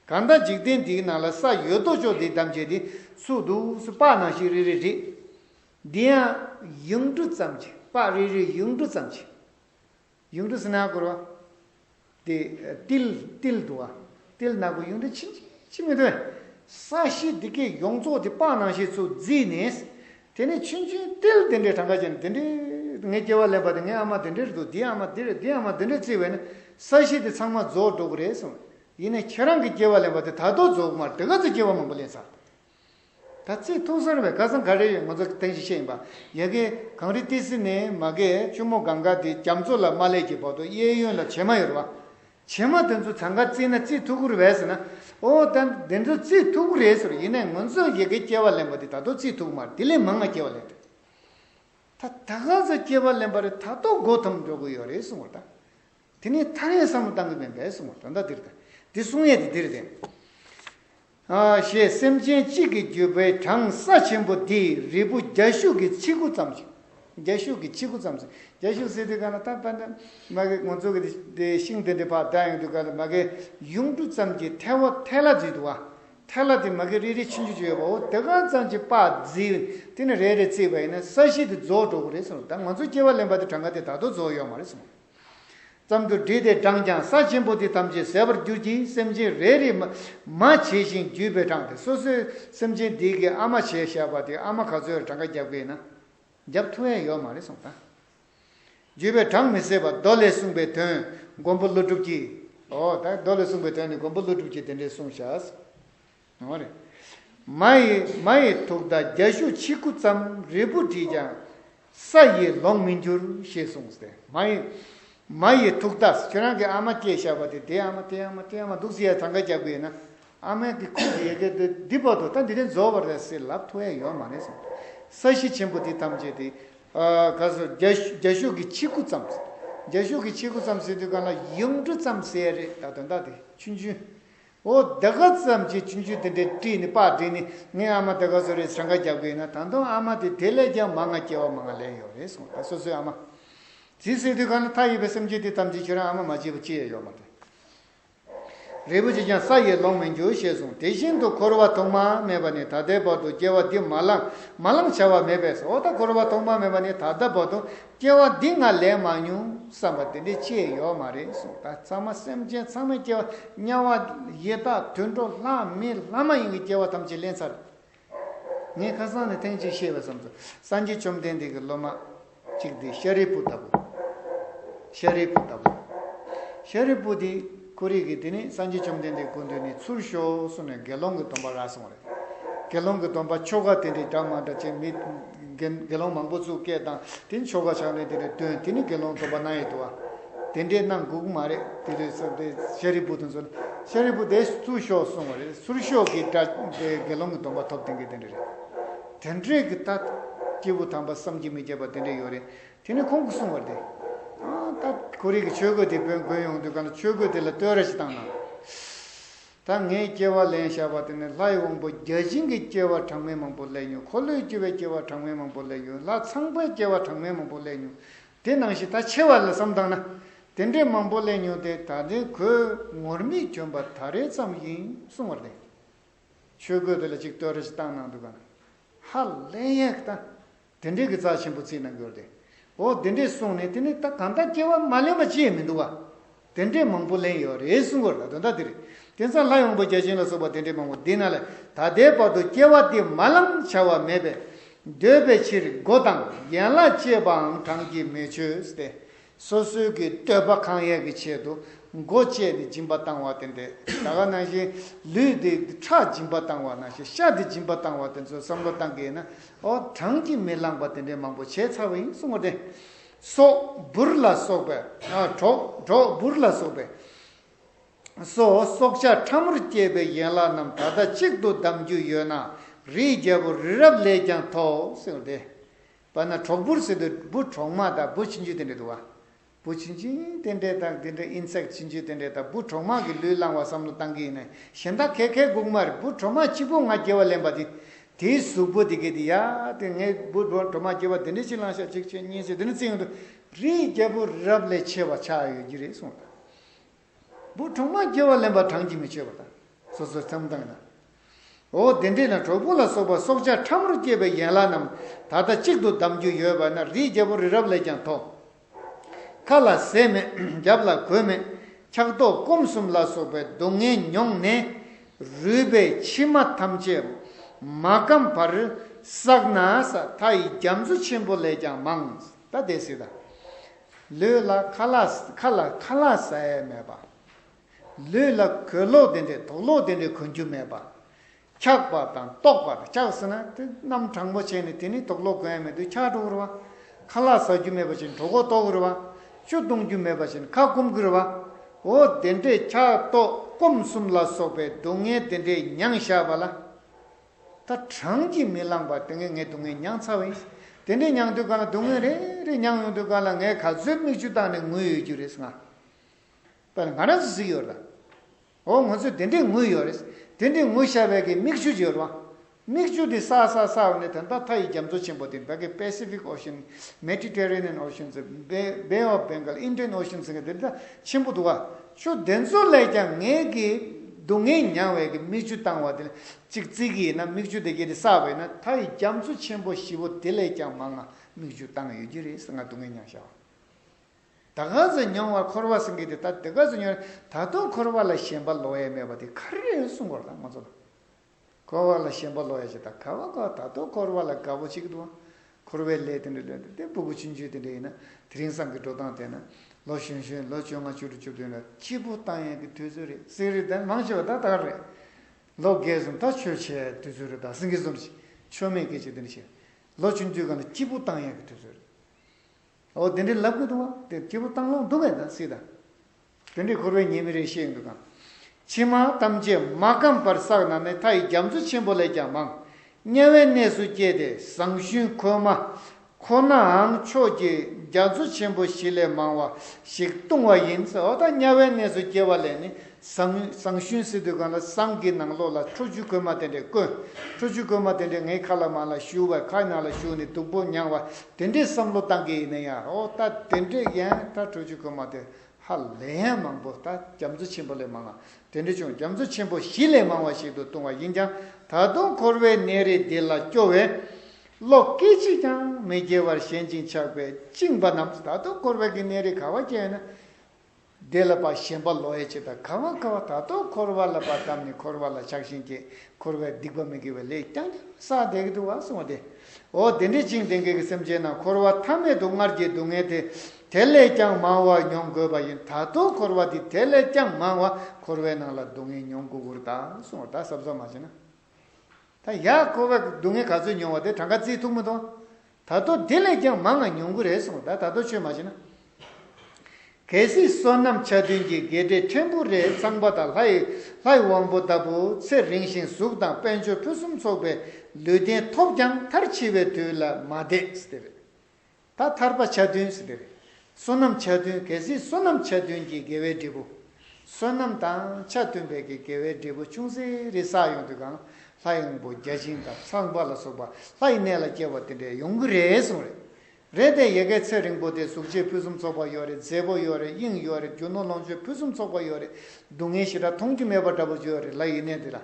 གང་ལྟར་འཇིག་རྟེན་འདིའི་ནང་ལ་ས་ཡོད་དོ་ཅོག་འདི་བདམས་བྱས་ཏེ་ཚུགས་འདུག་སུ་དཔག་ན་ཤིག་རེ་རེ་རེད། འདི་ཡང། ཡུངས་འབྲུ་ཙམ་གྱིས་དཔག་རེ་རེ་ཡུངས་འབྲུ་ཙམ་གྱིས། གཡུང་དྲུང་སྣ་དགུར་བ། ཏི། ཏིལ། ཏིལ་དུ་བ། ཏིལ་སྣ་དགུ་གཡུང་དྲུང་ཕྱིན་ཅི་ཕྱི་མི་ཐོན། ས་གཞི་འདི་ཀའི་ཡོངས་རྫོགས་དེ་དཔག་ནང་ཤེས་ཚུལ་བརྫིས་ནས། དེ་ནས་ཆུན་ཆུན་ཏིལ་དེ་འདྲའི་གྲངས་ཀ་ཅན་དེ་འདྲས་ངའི་སྐྱེ་བ་ལེན་པ་དེ་ངའི་ཨ་མ་དེ་འདྲས་འདུག་འདིའི་ཨ་མ་དེ་འདྲས་འདིའི་ཨ་མ་དེ་འདྲས་བརྩིས་བས་ན་ས་གཞི་དེ་ཚང་མ་རྫོགས་འགྲོ་གི་རེད་གསུངས། ཡིན་ནས་ཁྱེད་རང་གི་སྐྱེ་བ་ལེན་པ་དེ་ད་དུ་རྫོགས་མ་འགྲིག་ག་ཚོད་སྐྱེ་བ་མང་པོ་ལེན་ཚར། ད་ཚེས་ཐུག་སར་བའི་སྐལ་བཟང་ག་རེ་ཡོད་ང་ཚོ་གཏན་གཞི་ཤེས་ཡིན་པ་ཡལ་གས་གངས་རི་ཏི་སི་ནས་མ་གས་གཅུང་མོ་གངས་དཀར་དེ་རྒྱ་མཚོ་ལ་མ་ལས་ཀྱི་བར་དུ་གཡས་གཡོན་ལ་བྱེ་མ་ཡོད་རེད་བ། བྱེ་མ་དེ་ཚོ་བྱང་ཁར་བརྩིས་ན་རྩིས་ཐུག་གུ་རུ་བས་ཟེར་ན། ཨོ་ད་འདི་ཚོ་རྩིས་ཐུག་གུ་རེད་ཟེར་ཡིན་ནས་ང་ཚོས་ཡལ་གས་སྐྱེ་བ་ལེན་པ་དེ་ད་དུང་རྩིས་ཐུག་གུ་མ་རེད་དེ་ལས་མང་ང་སྐྱེ་བ་ལེན་དུས་ད་ད་ག་ཚོད་སྐྱེ་བ་ལེན་པ་རེད་ད་ཏོག་མགོ་འཐོམ་འགྲོ་གི་ཡོད་རེད་གསུང་བ་རེད་ད། དེ་ནས་ཐ་རེངས་བསམ་བློ་བཏང་གི་མིན་པས་གསུང་བ་རེད་ད་འདིར་ལྟ་དེ་གསུང་ཡས་དེ་འདིར་བསྡད། ཞེས་སེམས་ཅན་གཅིག་གི་བརྒྱུད་པའི་གྲངས་ས་ཆེན་པོ་འདི་རིལ་བུ་རྒྱ་ཤུག་གི་ཆིག་གུ་ཙམ་ཞིག། རྒྱ་ཤུག་གི་ཆིག་གུ་ཙམ་ཞིག། རྒྱ་ཤུག་ཟེར་དུས་ག་ལ་ཐག་པ་ན། མ་གིའི་ངོ་ཚུགས་ཀྱི་དེ་ཤིང་དེ་འདྲའི་བར་ཟླ་ཡོང་དུས་ག་ལ་མ་གིའི་ཡུངས་འབྲུ་ཙམ་གྱི་ཐལ་བ་ཐལ་ལ་བརྫིས་འདུག་བ། ཐལ་ལ་དེ་མ་གི་རེ་རེ་ཕྱིན་ཅུ་ཅུ་ཡོད་པའོ་དེ་གང་ཙམ་གྱི་པགས་བརྫིས་དེ་ནི་རེ་རེ་བརྩིས་པ་ཡིན་ན་ས་གཞི་དེ་རྫོགས་འགྲོ་གི་རེད་གསུངས་ད་ང་ཚོ་སྐྱེ་བ་ལེན་པ་དེ་གྲངས་ཀ་དེ་ད་དུ་རྫོགས་ཡོད་མ་རེད་གསུངས། ཙམ་དུ་བསྒྲིལ་ཏེ་བགྲངས་ཀྱང་ས་ཆེན་པོ་དེ་ཐམས་ཅད་ཟད་པར་འགྱུར་གྱི་སེམས་ཅན་རེ་རེས་མ་བྱས་ཤིང་བརྒྱུད་པས་བགྲངས་ཏེ་སོ་སོའི་སེམས་ཅན་དེ་གའི་ཨ་མ་བྱས་བཞག་པ་དེ་ཨ་མ་ག་ཚོད་ལ་གྲངས་ཀ་བརྒྱབ་དགོས་ན་བརྒྱབ་ཐུ་ཨེ་ཡོད་མ་རེད་གསུངས་དང། བརྒྱུད་པས་བགྲངས་མི་སྲིད་པ་མདོ་ལས་གསུངས་པའི་དོན་མགོན་པོ་ཀླུ་སྒྲུབ་ཀྱིས། ཨོ་ད་མདོ་ལས་གསུངས་པའི་དོན་ནི་མགོན་པོ་ཀླུ་སྒྲུབ་ཀྱིས་དེ་འདྲའི་གསུངས་བཞག། མ་རེད། མ་ཡི་མ་ཡི་དུག་མདའ་རྒྱ་ཤུག་ཆིག་དགུ་ཙམ་རིལ་བུ་བྲིས་ཀྱང་ས་ཡིས་ལོང་མི་འགྱུར་ཞེས་གསུངས་སྟེ་མ་ཡི་མ་ཡི་དུག་མདའ་ཁྱོད་རང་གི་ཨ་མ་སྐྱེས་ཞགས་པ་དེ་དེ་ཨ་མ་དེ་ཨ་མ་དེ་ཨ་མ་འདུག་ཟེར་ཡ་ཐང་ཀ་རྒྱག་དགོས་ཡོད་ན་ཨ་མའི་གི་ཁུག་གི་ཡལ་གས་དེ་འདི་བར་དུ་ད་འདི་དེ་འཛོལ་བར་རེད་ཟེར་ལབ་ཐུ་ཨེ་ཡོད་མ་རེད་གསུངས་ས་གཞི་ཆེན་པོ་དེ་ཐམས་ཅད་དེ་ག་སོ་རྒྱ་རྒྱ་ཤུག་གི་ཆིག་དགུ་ཙམ་རྒྱ་ཤུག་གི་ཆིག་དགུ་ཙམ་ཟེར་དུས་གང་ལ་ཡུམ་འབྲུ་ཙམ་ཟེར་རེད་ད་དོན་དག་དེ་ཆུན་ཆུན་འོ་ད་ག་ཙམ་གྱིས་ཁྱིམ་རྒྱུད་འདི་འདྲའི་བཀྲིས་ནི་དཔག་བསྒྲིགས་ནི་ངའི་ཨ་མ་ད་ག་ཟོ་རེད་ཟེར་འགའ་རྒྱབ་གི་ཡོད་ན་ད་དུང་ཨ་མ་དེ་དེ་ལས་ཀྱང་མ་ང་སྐྱེ་བ་མ་ང་ལེན་ཡོད་རེད་གསུངས་ད་སོ་སོའི་ཨ་མ་ཇི་སྲིད་དུས་གང་ན་ཐག་ཡོད་པའི་སེམས་ཅན་དེ་ཐམས་ཅད་ཁྱོད་རང་ཨ་མ་མ་བྱས་པ་ཅི་ཡང་ཡོད་མ་རེད། རིལ་བུ་གཅིག་ཀྱང་ས་ཡིས་སློང་མི་འགྱུར་ཞེས་གསུངས་དེ་བཞིན་དུ་འཁོར་བ་ཐོག་མར་མེད་པ་ནས་ད་ལྟའི་བར་དུ་སྐྱེ་བ་འདི་མ་བླངས་མ་བླངས་བྱ་བ་མེད་པས་སོ་ད་འཁོར་བ་ཐོག་མར་མེད་པ་ནས་ད་ལྟ་བར་དུ་སྐྱེ་བ་འདི་ང་ལས་མ་མྱོང་བསམ་པ་དེ་འདྲའི་ཆེས་ཡོད་མ་རེད་གསུངས་ད་ཚང་མ་སེམས་ཅན་ཚང་མའི་སྐྱེ་བ་དམྱལ་བ་ཡི་དྭགས་དུད་འགྲོ་ལྷ་མི་ལྷ་མ་ཡིན་གྱི་སྐྱེ་བ་ཐམས་ཅད་ལེན་ཚར། ངས་ཁ་སང་ནས་ཐེངས་གཅིག་བཤད་པའི་བསམ་ཚུལ་སངས་རྒྱས་བཅོམ་ལྡན་འདས་ཀྱི་སློབ་མ་གཅིག་དེ་ཤཱ་རིའི་བུ་ལྟ་བུ་ཤཱ་རིའི་བུ་ལྟ་བུ་ཤཱ་རིའི་བུ་དེ། ཀུ་རེ་གིས་དེ་ནས་སངས་རྒྱས་བཅོམ་ལྡན་འདས་ཀུན་འདུས་ནས་ཚུར་ཤོག་གསུངས་ནས་དགེ་སློང་གི་སྡོམ་པ་རག་སོང་རེ། དགེ་སློང་གི་སྡོམ་པ་ཆོ་ག་དེ་འདྲའི་འདྲ་མ་འདྲ་ཅན་མི། དགེ་སློང་མང་པོ་ཚུར་སྐད་བཏང་དེ་ཆོ་ག་ཕྱག་ལེན་དེ་འདྲ་སྟོན་དེ་ནི་དགེ་སློང་སྡོམ་པ་གནང་ཡོད་དུ་བ། དེ་འདྲའི་གནང་འགུགས་མ་རེད་དེ་ལས་སོ་དེ་ཤཱ་རིའི་བུ་དང་མཚོན་ན་ཤཱ་རིའི་བུ་དེ་ཚུར་ཤོག་གསུངས་བ་རེད་ཚུར་ཤོག་གིས་འདྲ་དེ་དགེ་སློང་གི་སྡོམ་པ་ཐོབ་དེ་འགས་དེ་འདྲ་རེད། དེ་འདྲས་ཀྱི་ད། སྐྱེས་བུ་དམ་པ་བསམ་གྱིས་མི་ཁྱབ་པ་དེ་འདྲས་ཡོད་རེད་དེ་ནས་ཁོང་གིས་གསུངས་པ་འདི། ད་ཁོ་རིག་གི་ཆོས་གོས་དེ་བོན་དགོན་ཡོང་དུས་གང་ལ་ཆོས་གོས་དེ་ལ་བསྟོད་ར་ཞིག་བཏང་ན། ད་ངས་སྐྱེ་བ་ལེན་བཞག་པ་དེ་ནི་ལྷའི་དབང་པོ་བརྒྱ་བྱིན་གྱི་སྐྱེ་བ་གྲངས་མེད་མང་པོ་ལས་ཉོན་འཁོར་ལོས་སྐྱེ་བའི་སྐྱེ་བ་གྲངས་མེད་མང་པོ་ལས་ཉོན་ལྷ་ཚངས་པའི་སྐྱེ་བ་གྲངས་མེད་མང་པོ་ལས་ཉོན་དེ་ནང་བཞིན་ད་ཆེ་བ་ལ་བསམ་བཏང་ན། དེ་འདྲའི་མང་པོ་ལས་ཉོན་དེ་ད་ལྟའི་གོས་ངུར་སྨྲིག་གྱོན་པ་ད་རེ་ཙམ་ཡིན་གསུངས་བར་བརྟེན། ཆོས་གོས་དེ་ལ་ཅིག་བསྟོད་ར་ཞིག་བཏང་གནང་དུས་གང་ལ། ཧ་ལས་ཡག་ད། དེ་འདྲས་ཀྱི་རྩ་ཆེན་པོ་རྩིས་གནང་གྱུར་ཏེ། འོ་དེ་འདྲས་གསུངས་ནས་དེ་ནས་ད་གང་ལྟར་སྐྱེ་བ་མ་ལེན་པ་ཅི་ཡང་མི་འདུག་བ། དེ་འདྲས་མང་པོ་ལེན་ཡོད་རེད་གསུང་གོ་ལ་དོན་དག་འདི་རེད། དེང་སང་ལྷ་ཡོང་པོ་བརྒྱ་བྱིན་ལ་སོགས་པ་དེ་འདྲས་མང་པོ་འདི་ན་ལས་ད་ལྟའི་བར་དུ་སྐྱེ་བ་དེ་མ་ལམ་བྱ་བ་མེད་པས། འདོད་པའི་ཕྱིར་སྒོ་དང་ཡན་ལག་བཅད་པའང་གྲངས་ཀྱིས་མི་ཆོད་དེ། སོ་སོའི་གི་བསྟོད་པ་གང་ཡག་གི་ཆེད་དུ་མགོ་བཅད་དེ་སྦྱིན་པ་བཏང་བ་དེ་འདྲས་ད་ག་ནང་བཞིན་ལུས་དེ་ཁྲག་སྦྱིན་པ་བཏང་བ་ནང་བཞིན་ཤ་དེ་སྦྱིན་པ་བཏང་བ་དེ་ཚོ་བསམ་བློ་བཏང་གི་ཡིན་ན་ཨོ་གྲངས་ཀྱི་མི་བླངས་པ་དེ་འདྲས་མང་པོ་བྱས་ཚར་བ་ཡིན་གསུང་བ་དེ་སོག་འབུར་ལ་སོགས་པའི་གྲོག་གྲོག་འབུར་ལ་སོགས་པའི་སོ་སོག་ཆ་ཕྲ་མོར་སྐྱེས་པའི་ཡན་ལག་རྣམས་ད་ལྟ་གཅིག་ཏུ་བསྡམ་རྒྱུ་ཡོད་ན་རིའི་རྒྱལ་པོ་རི་རབ་ལས་ཀྱང་མཐོ་གསུང་བ་དེ་པ་ན་གྲོག་སྦུར་ཟེར་དུ་སྦུར་གྲོག་མ་དང་སྦུར་ཕྱི་འཇུས་རྟེན་འབྲེལ་དུ་བ། སྦུར་ཕྱི་འཇུས་རྟེན་འབྲེལ་དང་དེ་འདྲའི་ཨིན་སྲེག་ཕྱི་འཇུས་རྟེན་འབྲེལ་དང་སྦུར་གྲོག་མ་གི་ལུས་བླངས་བ་བསམ་བློ་བཏང་གི་ཡིན་ན་གཞན་དག་ཁལ་ཁལ་གུག་མར་སྦུར་གྲོག་མ་སྤྱི་བོ་ང་རྒྱལ་བ་ལེན་པ་དེ་དེའི་གཟུགས་པོ་དེ་གས་དེ་ཡ་དེ་ངས་སྦུར་གྲོག་མ་རྒྱལ་བ་དེ་འདྲའི་ཕྱི་བླངས་ཤག་གཅིག་བྱས་གཉིས་བྱས་དེ་ནི་བརྩི་ཡོང་དུ་རིའི་རྒྱལ་པོ་རབས་ལས་ཆེ་བ་ཆགས་ཡོད་ཀྱི་རེད་གསུངས་སོང། བུ་གྲོག་མ་སྐྱེ་བ་ལེན་པར་གྲངས་ཀྱིས་མི་ཆོད་པ་དང། སོ་སོར་འཚམས་དང་ན། འོ་དེ་འདྲས་ན་གྲོག་པོ་ལ་སོགས་པ་སྲོག་ཆགས་ཕྲ་མོར་སྐྱེས་པའི་ཡན་ལག་རྣམས་ད་ལྟ་གཅིག་ཏུ་བསྡམ་རྒྱུ་ཡོད་པ་ན་རིའི་རྒྱལ་པོ་རི་རབ་ལས་ཀྱང་མཐོ། ཁ་ལ་ཟས་མེད་རྒྱབ་ལ་གོས་མེད་འཁྱག་ལྟོགས་སྐོམ་གསུམ་ལ་སོགས་པའི་སྡུག་བསྔལ་མྱོང་ནས། རུས་པའི་མཆིལ་མ་ཐམས་ཅད་མ་སྐམ་བར་བསགས་ན་ས་མཐའ་ཡི་རྒྱ་མཚོ་ཆེན་པོ་ལས་ཀྱང་མང། ད་དེ་སྲིད་དང། ལུས་ལ་ཁ་ལག་ཁ་ལ་ཁ་ལག་ཟ་ཡ་མེད་པ། ལུས་ལ་གོས་ལོག་དེ་འདྲའི་དོགས་ལོག་དེ་འདྲའི་གོན་རྒྱུ་མེད་པ། འཁྱག་པ་དང་ལྟོགས་པ་དང་འཁྱག་ཟེར་ན་དེ་རྣམས་དྲང་པོ་བྱས་ནས་དེ་ནི་དོགས་ལོག་གོན་ཡ་མེད་དུ་འཁྱག་འགྲོ་དགོས་རེད་བ། ཁ་ལག་ཟ་རྒྱུ་མེད་པ་བཞིན་གྲོགས་པོ་ལྟོགས་རེད་བ། ཆུ་བཏུང་རྒྱུ་མེད་པ་བཞིན་ཁ་སྐོམ་དགོས་རེད་བ། འོ་དེ་འདྲའི་འཁྱག་ལྟོགས་སྐོམ་གསུམ་ལ་སོགས་པའི་སྡུག་བསྔལ་དེ་འདྲའི་མྱངས་བཞག་པ་ལ། ད་གྲངས་ཀྱིས་མི་ལངས་པ་དེ་ངས་ངའི་སྡུག་བསྔལ་མྱངས་ཚར་བ་ཡིན། དེ་འདྲའི་མྱངས་དུས་གང་ལ་སྡུག་བསྔལ་རེ་རེ་མྱངས་ཡོང་དུས་གང་ལ་ངས་ག་ཚོད་མིག་ཆུ་བཏང་ནས་ངུས་ཡོད་རྒྱུ་རེད་ང། པ་ལ་ང་རང་ཚོ་གཟིགས་ཡོད་རེད། འོ་ང་ཚོས་དེ་འདྲའི་ངུས་ཡོད་རེད། དེ་འདྲའི་ངུ་ཤ་བས་ཀྱི་མིག་ཆུ་བརྗོད་རུང། མིག་ཆུ་དེ་སག་སག་སག་འོང་ནས་ད་ལྟ་མཐའ་ཡི་རྒྱ་མཚོ་ཆེན་པོ་དེ་འདྲ་གི Pacific Ocean། Mediterranean Ocean། Bay of Bengal། Indian Ocean། ཟེར་གི་དེ་འདྲ་ཆེན་པོ་འདུག་ག། ཆུ་དེ་ཚོ་ལས་ཀྱང་ངས་ཀྱི་སྡུག་བསྔལ་མྱངས་བས་ཀྱི་མིག་ཆུ་བཏང་བ་དེ་ལས་གཅིག་བརྩིས་ཀྱི་ཡིན་ན་མིག་ཆུ་དེ་གྱི་རེ་ས་བས་ན་ད་ཡི་རྒྱ་མཚོ་ཆེན་པོ་བཞི་བོ་དེ་ལས་ཀྱང་མང་ང་མིག་ཆུ་བཏང་ཡོད་ཀྱི་རེད་ང་སྡུག་བསྔལ་མྱངས་ཤག་ད་ག་ཚོད་མྱོང་བར་འཁོར་བ་སེང་གེ་དེ་ད་དེ་ག་ཚོད་མྱོང་རེད་ད་དུང་འཁོར་བ་ལ་ཞེན་པ་ལོག་ཡས་མེད་པ་དེ་ག་རེ་རེད་གསུང་གོ་ར་ད་ང་ཚོ་ལ། འཁོར་བ་ལ་ཞེན་པ་ལོག་ཡ་ཅེ་ད་ག་བ་གོ་ད་དོ་འཁོར་བ་ལ་དགའ་བོ་ཅིག་འདུག་འཁོར་བའི་ལས་དེ་འདྲ་ལོན་ཏེ་དེ་སྦུ་གུ་ཆུ་མཆོད་དེ་འདྲ་ཡིན་ན་དེ་རིང་སང་གི་འགྲོ་སྟངས་དེ་ན་ལོ་གཞོན་གཞོན་ལོ་བཅོ་ལྔ་བཅུ་དྲུག་བཅུ་བདུན་ལ་སྐྱིད་པོ་བཏང་ཡས་གི་དུས་ཚོད་རེད་སིང་རི་དང་མང་ཆེ་བ་ད་ལྟ་རེད་ལོ་འགས་གསུམ་ད་ཆོས་བྱས་ཡས་དུས་ཚོད་རེད་ད་སིང་གི་གསུམ་བྱས་ཆོས་མེད་སྐད་ཅིག་དེ་འདྲ་བྱས་ལོ་བཅུ་འཇུག་ག་ན་སྐྱིད་པོ་བཏང་ཡས་གི་དུས་ཚོད་རེད་ཨོ་དེ་འདྲ་ལབ་གི་འདུག་བ་དེ་སྐྱིད་པོ་བཏང་ལོང་འདུག་གས་ད་སིད་ད། དོན་དྲིས་འཁོར་བའི་ཉེས་དམིགས་རེ་ཤེས་ཡོད་འདུག་གམ། ཕྱི་མ་ཐམས་ཅད་མ་བསྐམས་པར་བསགས་ན་ནི་མཐའ་ཡི་རྒྱ་མཚོ་ཆེན་པོ་ལས་ཀྱང་མང། དམྱལ་བའི་གནས་སུ་སྐྱེས་ཏེ་ཟངས་ཞུན་ཁོལ་མ། ཁོ་ནའང་ཕྱོགས་ཀྱི་རྒྱ་མཚོ་ཆེན་པོ་བཞི་ལས་མང་བ་ཞིག་ལྟུང་བ་ཡིན། འོ་ད་དམྱལ་བའི་གནས་སུ་སྐྱེ་བ་ལས་ནི་ཟངས་ཞུན་སྲིད་དུ་གང་ལ་ཟངས་ཀྱི་ནང་ལོགས་ལ་ཁྲོ་ཆུ་ཁོལ་མ་དེ་འདྲས་བསྐོན། ཁྲོ་ཆུ་ཁོལ་མ་དེ་འདྲས་ངའི་ཁ་ལ་མ་ལ་ཞུ་བས་ཁ་ནང་ལ་ཞུགས་ནས་སྡུག་པོ་མྱངས་བ་དེ་འདྲས་བསམ་བློ་བཏང་གི་ཡིན་ན་ཡང་འོ་ད་དེ་འདྲས་ཡན་ད་ཁྲོ་ཆུ་ཁོལ་མ་དེ་ཧ་ལས་ཡང་མང་པོ་དག་རྒྱ་མཚོ་ཆེན་པོ་ལས་མང་ལ། དེ་འདྲ་ཆུང་རྒྱ་མཚོ་ཆེན་པོ་བཞི་ལས་མང་བ་ཞིག་ཏུ་ལྟུང་བ་ཡིན་ཀྱང་ད་དུང་འཁོར་བའི་གནས་རི་འདི་ལ་སྐྱོ་བས། བློ་སྐད་ཅིག་ཀྱང་མི་སྐྱེ་བར་ཞེན་ཅིང་ཆགས་པས་བཅིངས་པ་རྣམས་ད་དུང་འཁོར་བའི་གནས་རི་ག་བ་སྐྱེ་ཡོད་ན། དེ་ལ་བ་ཞེན་པ་ལོ་ཡེ་བྱེད་དང་ག་བ་ག་བ་ད་དུང་འཁོར་བ་ལ་བ་བསྡམས་ནས་འཁོར་བ་ལ་ཆགས་ཞེན་སྐྱེས་འཁོར་བའི་སྡིག་པ་མི་དགེ་བའི་ལས་ཀྱང་ཀྱང་ས་དེ་ག་དུ་བ་སོང་བ་སྟེ། འོ་དེ་འདྲའི་བཅིངས་ལྡན་གེགས་སེམས་ཅན་རྣམས་འཁོར་བ་མཐའ་མེད་དུ་སྔར་གྱི་སྡུག་བསྔལ་དེ་དེ་ལས་ཀྱང་མང་བ་མྱོང་དགོས་པ་ཡིན་ད་དུང་འཁོར་བ་འདི་དེ་ལས་ཀྱང་མང་བ་འཁོར་བའི་ནང་ལ་སྡུག་བསྔལ་མྱོང་དགོས་ཁུར་དང་གསུང་བ་དག་གསབ་ཟ་མ་བྱེད་ན། ད་ཡ་འཁོར་བའི་སྡུག་བསྔལ་ག་ཚོད་མྱོང་བ་དེ་གྲངས་ཀ་རྩིས་ཐུག་མི་འདུག་ད་དུང་དེ་ལས་ཀྱང་མང་ང་མྱོང་གི་རེད་གསུང་བ་དག་ད་དུང་ཆོས་མ་བྱེད་ན། གལ་སྲིད་བསོད་ནམས་ཆ་མཐུན་གྱི་དགེ་སྡེ་ཕྲན་བུ་རེ་ཚང་པ་དང་ལྷ་ཡི་ལྷ་ཡི་དབང་པོ་ལྟ་བུ་ཚེ་རིང་ཞིང་གཟུགས་དང་དཔལ་འབྱོར་ཕུན་སུམ་ཚོགས་པའི་ལུས་རྟེན་ཐོབ་ཀྱང་མཐར་འཆི་བའི་དུས་ལ་མ་བསྡད་སྟེ། ད་ཐར་པ་ཆ་བདུན་ཟེར་བའི་རེད། བསོད་ནམས་ཆ་བདུན་གལ་སྲིད་བསོད་ནམས་ཆ་བདུན་གྱི་དགེ་བའི་འབྲས་བུ། བསོད་ནམས་དང་ཆ་བདུན་པའི་གི་དགེ་བའི་འབྲས་བུ་ཆུང་ཟད་རེ་བསགས་ཡོང་དུས་གང་ལྷ་ཡངས་པོ་བརྒྱ་བྱིན་དང་ཚངས་པ་ལ་སོགས་པ་ལྷ་ཡི་གནས་ལ་སྐྱེ་བ་དེ་འདྲས་ཡོང་གི་རེད་གསུངས་རེད། རེད་དེ་ཡེ་གེ་ཚེ་རིང་པོ་དེ་གཟུགས་བྱད་ཕུན་སུམ་ཚོགས་པ་ཡོད་རེད་མཛེས་པོ་ཡོད་རེད་དབྱིངས་ཡོད་རེད་རྒྱུ་ནོར་ལོངས་སྤྱོད་ཕུན་སུམ་ཚོགས་པ་ཡོད་རེད་སྡུག་བསྔལ་ཞེ་དྲག་མཐོང་རྒྱུ་མེད་པ་འདྲ་པོ་ཡོད་རེད་ལྷ་ཡི་གནས་འདི་ལ།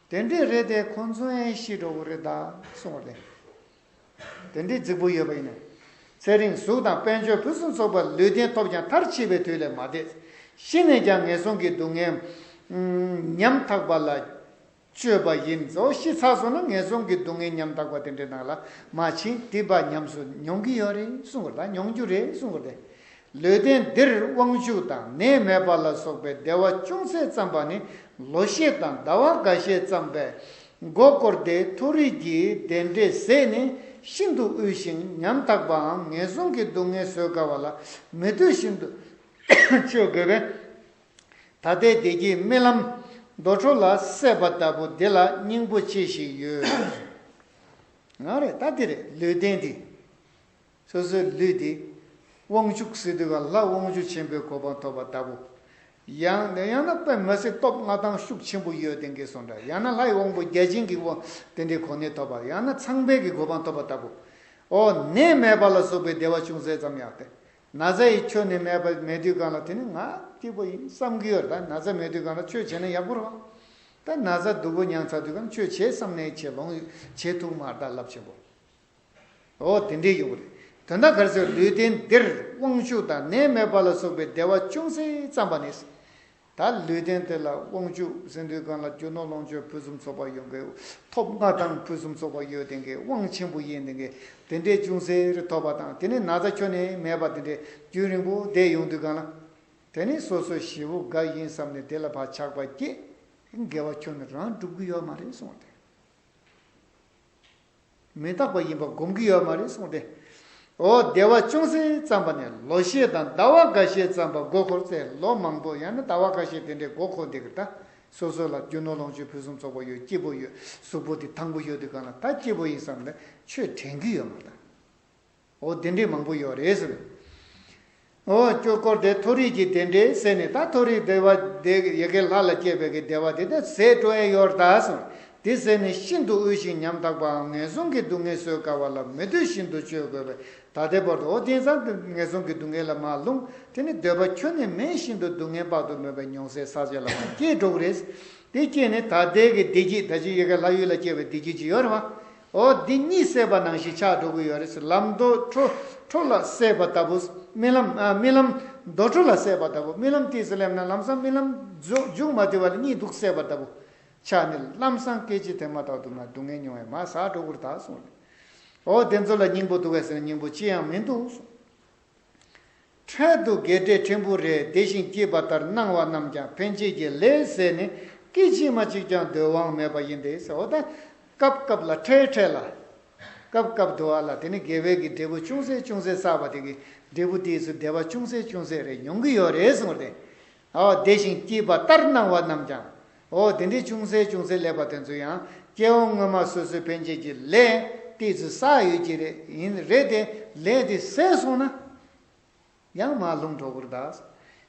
དེ་འདྲས་རེད་དེ་ཁོང་ཚོའི་ཤི་འགྲོ་གི་རེད་ད་གསུངས་རེད། དེ་འདྲའི་རྫིག་པོ་ཡོད་པ་ཡིན་ནམ། ཚེ་རིང་གཟུགས་དང་དཔལ་འབྱོར་ཕུན་སུམ་ཚོགས་པ་ལུས་རྟེན་ཐོབ་ཀྱང་མཐར་འཆི་བའི་དུས་ལས་མ་འདས། ཤི་ནས་ཀྱང་ངན་སོང་གི་སྡུག་བསྔལ། ཉམ་ཐག་པ་ལ་སྤྱོད་པ་ཡིན། གཙོ་བོ་ཤི་ཚར་སོང་ན་ངན་སོང་གི་སྡུག་བསྔལ་ཉམ་ཐག་པ་དེ་འདྲའི་ནང་ལ་མ་ཕྱིན་དེ་བ་ཉམས་སུ་མྱོང་གི་ཡོད་རེད་གསུང་དགོས་རེད་དཱ་མྱོང་རྒྱུ་རེད་གསུང་དགོས་རེད་དཱ། ལུས་རྟེན་འདིར་དབང་ཕྱུག་དང་ནད་མེད་པ་ལ་སོགས་པའི་བདེ་བ་ཅུང་ཟད་བརྩམས་པ་ནི་ལོ་ཤས་དང་ཟླ་བ་འགའ་ཤས་བརྩམས་པས་མགོ་བསྐོར་ཏེ་མཐོ་རིས་ཀྱི་བདེ་འབྲས་ཟད་ནས་ཤིན་ཏུ་དབུལ་ཞིང་ཉམ་ཐག་པའམ་ངན་སོང་གི་སྡུག་བསྔལ་བཟོད་དཀའ་བ་ལ་མི་སྡོད་བཞིན་དུ་སྤྱོད་དགོས་པས། ད་ལྟའི་བདེ་སྐྱིད་རྨི་ལམ་རྡོ་བྲོ་ལ་སྲེད་པ་ལྟ་བུ་འདི་ལ་སྙིང་པོ་ཆེ་ཞིག་ཡོད། ང་རེད་ད་འདི་རེད་ལུས་རྟེན་འདི། སོ་སོའི་ལུས་འདི། དབང་ཕྱུག་སི་ཏུ་ག་ལྷ་དབང་ཕྱུག་ཆེན་པོའི་གོ་འཕང་ཐོབ་པ་ལྟ་བུ། ཡང་ན་ཡང་ན་པདྨ་སི་སྟོབས་མངའ་ཐང་ཤུགས་ཆེན་པོ་ཡོད་དེ་འགས་སོ་འདྲ་ཡང་ན་ལྷའི་དབང་པོ་བརྒྱ་བྱིན་གྱི་དབང་དེ་འདྲའི་གོ་གནས་ཐོབ་པ་ཡང་ན་ཚངས་དཔལ་གྱི་གོ་འཕང་ཐོབ་པ་ལྟ་བུ། འོ་ནད་མེད་པ་ལ་སོགས་པའི་བདེ་བ་ཅུང་ཟད་ཙམ་ཡང་སྟེ། ན་ཚ་ཡི་ཁྱོ་ནད་མེད་པ་མེད་དུས་གང་ལ་དེ་ནི་ང་སྐྱིད་པོ་ཡིན་བསམ་གྱི་ཡོད་ད་ན་ཚ་མེད་དུས་གང་ལ་ཆོས་བྱས་ན་ཡག་པོ་རང་ད་ན་ཚ་སྡུག་པོ་མྱངས་ཚར་དུས་གང་ཆོས་བྱས་བསམ་ནས་བྱས་ལོངས་ཡོད་བྱས་ཐུག་མར་བདག་བསླབ་ཆེན་པོ། ཨོ་དེ་འདྲས་ཡོད་རེད་དོན་དག་གར་སོས་ལུས་རྟེན་འདིར་དབང་ཕྱུག་དང་ནད་སྨོད་པ་ལ་སོགས་པའི་བདེ་བ་ཅུང་ཟད་བརྩམས་པ་ནས། ད་ལུས་རྟེན་དེ་ལ་དབང་ཕྱུག་སེང་ལྡུའི་སྒང་ལ་རྒྱུ་ནོར་ལོངས་སྤྱོད་ཕུན་སུམ་ཚོགས་པ་ཡོང་གི་ཐོབ་ལྔ་དང་ཕུན་སུམ་ཚོགས་པ་ཡོད་དེ་གའི་དབང་ཆེན་པོ་ཡིན་དེ་གའི་དེ་འདྲས་ཅུང་ཟད་ཐོབ་པ་དང་དེ་ནས་ན་ཚ་ཁྱོན་ནས་མེད་པ་དེ་འདྲས་རྒྱུན་རིང་པོ་བསྡད་ཡོང་དུས་གང་ལ། དེ་ནི་སོ་སོའི་བྱེད་པོ་འགའ་ཡིན་བསམ་ནས་དེ་ལ་བག་ཆགས་པ་སྐྱེས། དགེ་བ་ཁྱོད་རང་བསྒྲུབ་གི་ཡོད་མ་རེད་གསུངས་ཏེ། མི་རྟག་པ་ཡིན་པ་སྒོམ་གྱི་ཡོད་མ་རེད་གསུངས་ཏེ། འོ་བདེ་བ་ཅུང་ཟད་བརྩམས་པ་ནས་ལོ་ཤས་དང་ཟླ་བ་འགའ་ཤས་བརྩམས་པ་མགོ་འཁོར་ཚེ་ལོ་མང་པོ་ཡང་ན་ཟླ་བ་འགའ་ཤས་དེ་འདྲའི་མགོ་འཁོར་འདི་གི་ད་སོ་སོ་ལ་རྒྱུ་ནོར་ལོངས་སྤྱོད་ཕུན་སུམ་ཚོགས་པ་ཡོད་སྐྱིད་པོ་ཡོད་གཟུགས་པོ་དེ་དང་པོ་ཡོད་དེ་གང་ལ་ད་སྐྱིད་པོ་ཡིན་བསམ་ནས་ཆོས་དྲན་གྱི་ཡོད་མ་རེད། འོ་བདེ་འགྲེལ་མང་པོ་ཡོད་རེད་ཟེར། འོ་སྐྱོ་སྐོར་དེ་མཐོ་རིས་ཀྱི་བདེ་འགྲེལ་ཟེར་ནས་ད་མཐོ་རིས་བདེ་བ་དེ་ཡི་གེ་ལྷ་ལ་སྐྱེས་པའི་གི་བདེ་བ་དེ་དེ་ཟས་དྲོ་ཨེ་ཡོད་ད་ཟེར། དེ་ཟས་ནི་ཤིན་ཏུ་དབུལ་ཞིང་ཉམ་ཐག་པའམ་ངན་སོང་གི་སྡུག་བསྔལ་བཟོད་དཀའ་བ་ལ་མི་འདོད་བཞིན་དུ་སྤྱོད་དགོས་པས་ད་ལྟའི་བར་དུ་ཨོ་དེང་སང་གི་ངན་སོང་གི་སྡུག་བསྔལ་ལ་མ་ལྷུང། དེ་ནི་འདོད་པ་ཁྱོད་ནི་མེད་བཞིན་དུ་སྡུག་བསྔལ་དཔག་ཏུ་མེད་པའི་མྱོང་བསལ་ཟག་བཅས་ལ་མ་སྐྱེས་གྲོགས་རེད། དེ་སྐྱེས་ནས་ད་ལྟའི་གི་བདེ་སྐྱིད་ད་ཅི་ཡི་གེ་ལྷ་ཡུལ་ལ་སྐྱེས་པའི་བདེ་སྐྱིད་ཅིག་ཡོད་རེད་བ། ཨོ་འདི་གཉིས་སད་པ་ནང་བཞིན་ཆགས་འགྲོ་གི་ཡོད་རེད་ཟེར་ལམ་རྡོ་ཁྲོ་ཁྲོ་ལ་སད་པ་ལྟ་བུ། རྨི་ལམ་རྨི་ལམ། རྡོ་ཁྲོ་ལ་སད་པ་ལྟ་བུ་རྨི་ལམ་ལྟས་སུ་སླེབས་ན་ལམ་སང་རྨི་ལམ་མཇུག་མ་བསྡུས་པ་ལ་གཉིད་སྡུག་སད་པ་ལྟ་བུ། ཆགས་ནས་ལམ་སང་སྐད་ཅིག་དེ་མ་ཐག་ཏུ་ང་སྡུག་བསྔལ་མྱོང་བས་མ་བཟའ་འགྲོ་གུར་དག་གསུངས། ཨོ་དེ་ཚོ་ལ་སྙིང་པོ་འདུག་བས་ཟེར་ན་སྙིང་པོ་ཅི་ཡང་མི་འདུག་གསུངས། འཕྲལ་དུ་དགེ་སྦྲེལ་ཕྲན་བུ་རེ་བདེ་བཞིན་སྐྱིད་པ་ལྟར་སྣང་བ་རྣམས་ཀྱང་ཕན་ཆད་ཀྱི་ལས་ཟས་ནི་སྐད་ཅིག་མ་གཅིག་ཀྱང་སྡོད་དབང་མེད་པ་ཡིན་ཏེ། འོ་ད་སྐབས་སྐབས་ལ་འཕྲལ་འཕྲལ་ལ། སྐབས་སྐབས་བསྡོ་བ་ལ་དེ་ནི་དགེ་བས་ཀྱི་འབྲས་བུ་ཅུང་ཟད་ཅུང་ཟད་བསགས་པ་དེ་གི་འབྲས་བུ་དེས་སུ་བདེ་བ་ཅུང་ཟད་ཅུང་ཟད་རེ་མྱོང་གི་ཡོད་རེད་གསུངས་པ་དེ་བདེ་ཞིང་སྐྱིད་པ་ལྟར་སྣང་བ་རྣམས་ཀྱང། དེ་འདྲའི་ཅུང་ཟད་ཅུང་ཟད་ལེགས་པ་དེ་ཚོ་ཡང་སྐྱེ་བོ་སྔོན་མ་སོ་སོའི་ཕན་ཆད་ཀྱི་ལས་ཏིག་ཚོད་བསགས་ཡོད་ཀྱི་རེད། རེད་དེ། ལས་དེ་ཟད་སོང་ན། ཡང་མར་ལྷུང་གྲོགས་པོར་གདའ།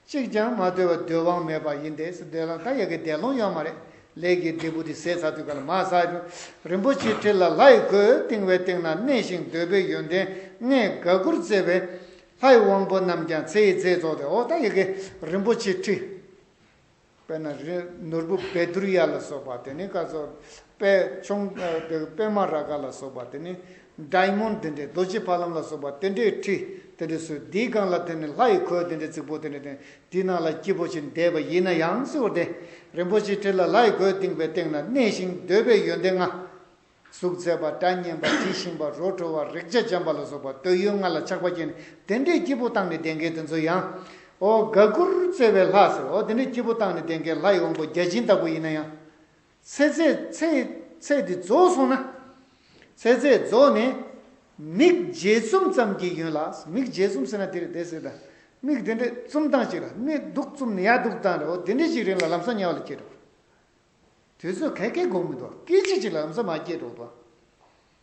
གཅིག་ཀྱང་མ་སྡོད་པར་སྡོད་དབང་མེད་པ་ཡིན་ཏེ། སྡོད་ལམ་ད་ཡོད་ཀྱི་འདས་ལོངས་ཡོད་མ་རེད། ལས་ཀྱི་འབྲས་བུ་དེ་ཟད་ཚར་དུས་ག་ལ་མ་བསགས་ཀྱང། རིན་པོ་ཆེའི་ཁྲི་ལ་ལྷ་ཡི་གོས་བཏིང་བའི་སྟེང་ན་གནས་ཤིང་སྡོད་པའི་ཡོན་ཏན་ལྔས་དགའ་མགུར་བརྩེ་བས། ལྷའི་དབང་པོ་རྣམས་ཀྱང་ཚེ་ཡི་རྫས་རྫོགས་ཏེ་འོ་ད་ཡི་གེ་རིན་པོ་ཆེའི་ཁྲི། དཔེར་ན་རི་ནོར་བུ་བེ་དུར་ཡ་ལ་སོགས་པ་དེ་ནི་སྐར་ཚོགས་པད་འབྱུང་པདྨ་རཱ་ག་ལ་སོགས་པ་དེ་ནི་སྒྲ་མུན་དེ་འདྲའི་རྡོ་རྗེ་ཕ་ལམ་ལ་སོགས་པ་དེ་འདྲའི་ཁྲི་དེ་འདྲའི་སོས་དེའི་སྒང་ལ་དེ་ནི་ལྷ་ཡི་གོས་དེ་འདྲའི་རྫིག་པོ་དེ་འདྲའི་སྟེང་དེའི་ནང་ལ་སྐྱེས་བུ་ཆེན་འདས་པ་ཡིན་ན་ཡང་གཟིགས་བར་ཏེ་རིན་པོ་ཆེའི་ཁྲི་ལ་ལྷའི་གོས་བཏིང་བའི་སྟེང་ན་གནས་ཤིང་འདོད་པའི་ཡོན་ཏན་ལྔ། གཟུགས་མཛེས་པ་སྒྲ་སྙན་པ་དྲི་ཞིམ་པ་རོ་བྲོ་བ་རེག་བྱ་འཇམ་པ་ལ་སོགས་པ་འདོད་ཡོན་ལྔ་ལ་ཆགས་པ་སྐྱེས་ནས་དེ་འདྲའི་སྐྱེས་བུ་བཏང་ནས་གདེངས་ཀའི་དེ་ཚོ་ཡང། ཨོ་དགའ་མགུར་བརྩེ་བའི་ལྷ་ཟེར་ཨོ་དེ་འདྲའི་སྐྱེས་བུ་བཏང་ནས་གདེངས་ཀའི་ལྷ་ཡི་དབང་པོ་བརྒྱ་བྱིན་ལྟ་བུ་ཡིན་ན་ཡང། ཚེ་ཚད་ཚད་དེ་རྫོགས་སོང་ན། ཚེ་ཚད་རྫོགས་ནས། མིག་འབྱེད་བཙུམ་ཙམ་གྱིས་ཡོན་ལ་མིག་འབྱེད་བཙུམ་ཟེར་ན་དེ་རེད་དེ་ཟེར་དང། མིག་དེ་འདྲས་བཙུམ་སྟངས་ཅིག་ལ་མིག་གདུགས་བཙུམ་ནས་ཡར་གདུགས་བཏང་རེད་ཨོ་དེ་འདྲའི་ཅིག་རིང་ལ་ལམ་སང་ཉལ་བ་ལ་སྐྱེས་འགྲོ། དུས་ཚོད་ག་གེ་དགོས་མི་འདུག་སྐད་ཅིག་གཅིག་ལ་ཨམ་ཟ་མ་སྐྱེས་འགྲོ་འདུག་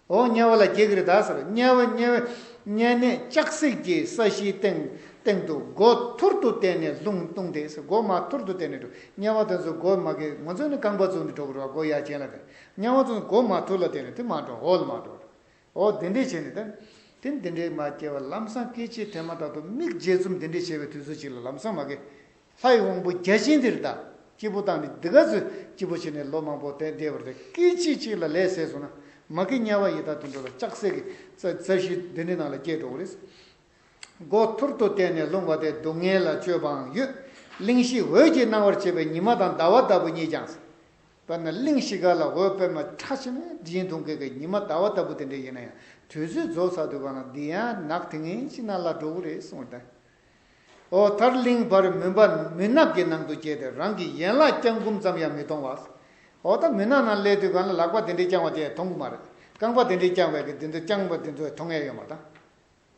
ཨོ་དམྱལ་བ་ལ་རྒྱལ་གྱི་རི་དྭགས་ཟེར་དམྱལ་བ་དམྱལ་བའི་དམྱལ་གནས་ལྕགས་སྲེག་གི་ས་གཞིའི་སྟེང་སྟེང་དུ་སྒོ་ཐུར་དུ་བསྟན་ནས་ལྷུང་བཏུང་དེ་སྒོ་མ་ཐུར་དུ་བསྟན་ནས་འགྲོ་དམྱལ་བ་དེ་ཚོ་སྒོ་མ་གེ་ང་ཚོ་ནི་རྐང་པ་བཙུགས་ནས་འགྲོ་གི་རོགས་སྒོ་ཡ་ཅན་ལ་དེ་དམྱལ་བ་ཚོ་སྒོ་མ་ཐུར་ལ་བསྟན་ནས་དེ་མ་འགྲོ་ཧོལ་མ་འགྲོ་ཨོ་དེ་འདྲས་བྱས་ནས་དེ་དེ་འདྲས་མ་སྐྱེས་བར་ལམ་སང་སྐད་ཅིག་ཐལ་མ་དག་ཏུ་མིག་འབྱེད་རྩོམ་དེ་འདྲས་བྱས་པའི་དུས་ཚོད་ཅིག་ལ་ལམ་སང་མ་གེ་ལྷ་ཡི་དབང་པོ་བརྒྱ་བྱིན་འདིར་བདག་སྐྱེས་བུ་དང་ནི་འདི་ག་ཚོས་སྐྱེས་བུ་བྱས་ནས་ལོ་མང་པོ་དད་བདེ་བར་དེ་སྐད་ཅིག་གཅིག་ལ་ལས་ཟས་སོང་ན་མ་ཀི་དམྱལ་བ་ཡི་དྭགས་དུད་འགྲོ་ལ་ལྕགས་བསྲེགས་ཀྱི་རྩ་བཞི་འདི་ནི་ནང་ལ་སྐྱེས་འགྲོ་བ་རེད། སྒོ་ཐུར་དུ་བསྟན་ནས་ལྷུང་བ་སྟེ་སྡུག་བསྔལ་ལ་སྤྱོད་པའང་ཡོད། གླིང་བཞི་འོད་ཀྱིས་སྣང་བར་བྱེད་པའི་ཉི་མ་དང་ཟླ་བ་ལྟ་བུ་གཉིས་ཀྱང། དཔེར་ན་གླིང་བཞི་ག་ལ་འོད་དཔེར་ན་ཁྲ་ཆེན་མོའི་དྲི་ཡིན་དུང་གི་གའི་ཉི་མ་ཟླ་བ་ལྟ་བུ་དེ་འདྲའི་ཡིན་ན་ཡང་དུས་ཚོད་རྫོགས་ཚར་དུས་གང་ལ་འདི་ཡང་ནག་དེ་ངེས་ཅི་ན་ལ་འགྲོ་གི་རེད་གསུངས་བརྡ། འོ་དར་གླིང་བར་མུན་པ་མུན་ནག་གི་ནང་དུ་བསྐྱལ་ཏེ་རང་གི་ཡན་ལག་བརྐྱང་བསྐུམ་ཙམ་ཡང་མི་གཏོང་བ། འོ་ད་མུན་ནག་ནང་སླེབས་དུས་གང་ལ་ལག་པ་དེ་འདྲས་བརྐྱང་བ་དེ་མཐོང་གི་མ་རེད། རྐང་པ་དེ་འདྲས་བརྐྱང་བས་ཀྱི་དེ་ཚོ་བརྐྱང་བ་དེ་ཚོ་མཐོང་ཡ་ཡོད་མ་དང།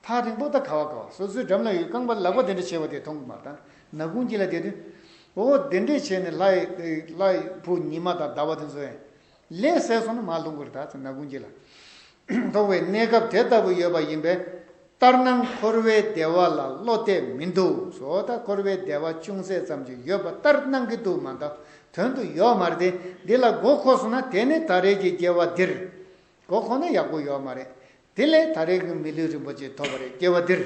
ཐག་རིང་པོ་ད་ག་བ་ག་བ་སོ་སོའི་འགྲམ་ན་ཡོད་རྐང་པ་ལག་པ་དེ་འདྲས་བྱས་བ་དེ་མཐོང་གི་མ་དང་ན་གུང་ཅི་ལ་བསྡད་དུས། འོ་དེ་འདྲས་བྱས་ནས་ལྷའི་བུ་ཉི་མ་དང་ཟླ་བ་དེ་ཚོ་ཡང་ལས་གསལ་སོང་ན་མ་ལྷུང་བར་དག་ན་ཀུན་བྱེད་ལ་ཐོགས་བའི་གནས་སྐབས་དེ་ལྟ་བུ་ཡོད་པ་ཡིན་པས། ལྟར་སྣང་འཁོར་བའི་བདེ་བ་ལ་བློ་གཏད་མི་འདུག་བཟོ་ལྟ་འཁོར་བའི་བདེ་བ་ཅུང་ཟད་ཙམ་ཅིག་ཡོད་པ་ལྟར་སྣང་གི་འདུག་མ་མཐའ་དོན་དུ་ཡོག་མ་རེད་འདི་ལ་མགོ་འཁོར་སོང་ན་དེ་ནི་ད་རེས་ཀྱི་སྐྱེ་བ་འདིར་མགོ་འཁོར་ན་ཡག་པོ་ཡོག་མ་རེད་དེ་ལས་ད་རེས་ཀྱི་མི་ལུས་རིན་པོ་ཆེ་ཐོབ་པ་རེད་སྐྱེ་བ་འདིར།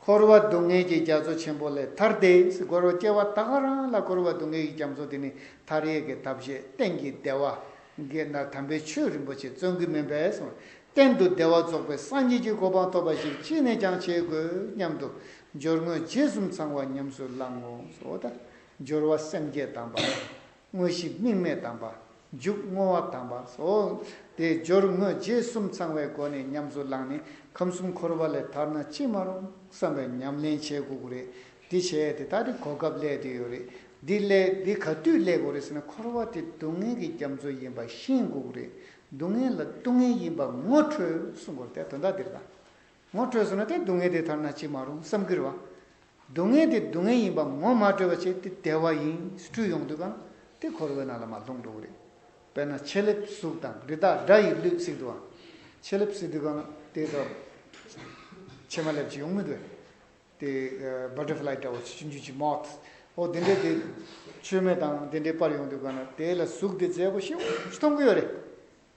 འཁོར་བ་སྡུག་བསྔལ་གྱི་རྒྱ་མཚོ་ཆེན་པོ་ལས་ཐར་ཏེ། འཁོར་བར་སྐྱེ་བ་དག་ག་རང་ལ་འཁོར་བ་སྡུག་བསྔལ་གྱི་རྒྱ་མཚོ་དེ་ནི་མཐར་ཡས་ཀྱི་ཐབས་ཤེས་གཏན་གྱི་བདེ་བ། དགེ་ན་དམ་པའི་ཆོས་རིན་པོ་ཆེ་བརྩོན་ཀུན་མིན་པས་སོ། གཏན་དུ་བདེ་བ་རྫོགས་པའི་སངས་རྒྱས་ཀྱི་གོ་འཕང་ཐོབ་པ་ཞིག་ཅི་ནས་ཀྱང་བྱེད་དགོས་སྙམ་དུ། སྦྱོར་དངོས་རྗེས་གསུམ་ཚང་བ་ཉམས་སུ་བླང་ངོ། འོ་ད་སྦྱོར་བ་སེམས་བསྐྱེད་དམ་པ། དངོས་གཞི་དམིགས་མེད་དམ་པ། འཇུག་བསྔོ་བ་དམ་པ་སོགས་དེ་སྦྱོར་དངོས་རྗེས་གསུམ་ཚང་བའི་སྒོ་ནས་ཉམས་སུ་བླངས་ནས་ཁམས་གསུམ་འཁོར་བ་ལས་ཐར་ན་ཅི་མ་རུང་བསམ་པའི་ཉམས་ལེན་བྱེད་དགོས་ཀྱི་རེད། འདི་བྱས་དེ་ད་དེ་གོ་སྐབས་སླད་དུ་ཡོད་རེད། འདི་སླད་འདི་ག་དུས་སླད་དགོས་རེད་ཟེར་ན་འཁོར་བ་དེ་སྡུག་བསྔལ་གྱི་རྒྱ་མཚོ་ཡིན་པ་ཤེས་དགོས་ཀྱི་རེད། སྡུག་བསྔལ་ལ་ལྟུང་བསྔལ་ཡིན་པ་ངོ་འཕྲོད་གསུངས་སྐོར་དེ་དོན་དག་འདིར་དང། ངོ་སྤྲོད་བཟོ་ན་དེ་སྡུག་བསྔལ་དེ་དར་ན་ཅི་མ་རུང་བསམ་གྱི་རེད་བ། སྡུག་བསྔལ་དེ་སྡུག་བསྔལ་ཡིན་པ་ངོ་མ་སྤྲོད་པ་བྱས་དེ་བདེ་བ་ཡིན་སྤྲུལ་ཡོང་དུས་གང་དེ་འཁོར་བའི་ནང་ལ་མ་ལྷུང་འགྲོ་གི་རེད། དཔེར་ན་ཕྱེ་ལེབ་གཟུགས་དང་རི་དྭགས་སྦྲ་ཡིས་ལུས་བསྲེགས་དུས་བ། ཕྱེ་ལེབ་བསྲེགས་དུས་གང་དེ་དག་ཕྱེ་མ་ལེབ་ཅིག་ཡོང་མི་འདུག་བས། དེ Butterfly འདྲ་བོ་ཆུ་འཇུ་ཆུ Moth ཨོ་དེ་འདྲའི་དེ་མཆོད་མེ་དང་དེ་འདྲའི་པར་ཡོང་དུས་གང་དེ་ལ་གཟུགས་དེ་མཛེས་པོ་ཞེ་བོ་ཞིག་མཐོང་གི་ཡོད་རེད།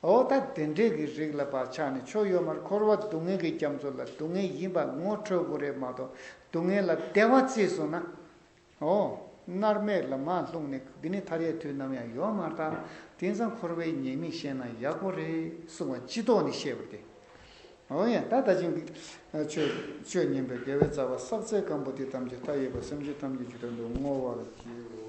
འོ་ད་དེ་འདྲས་ཀྱི་རིགས་ལ་བག་ཆགས་ནི་ཕྱོགས་ཡོད་མར་འཁོར་བ་སྡུག་བསྔལ་གྱི་རྒྱ་མཚོ་ལ་སྡུག་བསྔལ་ཡིན་པ་ངོ་འཕྲོད་དགོས་རེད་མ་གཏོགས་སྡུག་བསྔལ་ལ་བདེ་བ་བརྩིས་སོང་ན། འོ། མནར་མེད་ལ་མ་ལྷུང་ནི་འདི་ནི་མཐར་ཡས་དུས་ནམ་ཡང་ཡོང་མ་ཐག་དེང་སང་འཁོར་བའི་ཉེས་དམིགས་ཤེས་ན་ཡག་པོ་རེད་གསུང་བ་སྤྱི་ལྡོག་ནི་ཤེས་པར་བདེ། འོ་ཡང་ད་ད་ཕྱིན་གྱི་ཆོས་ཉན་པའི་དགེ་བའི་རྩ་བ་བསགས་ཚད་སྐམ་པོ་དེ་ཐམས་ཅད་མཐའ་ཡས་པ་སེམས་ཅན་ཐམས་ཅད་ཇི་ལྟར་འདུག་བསྔོ་བར་བགྱིའོ།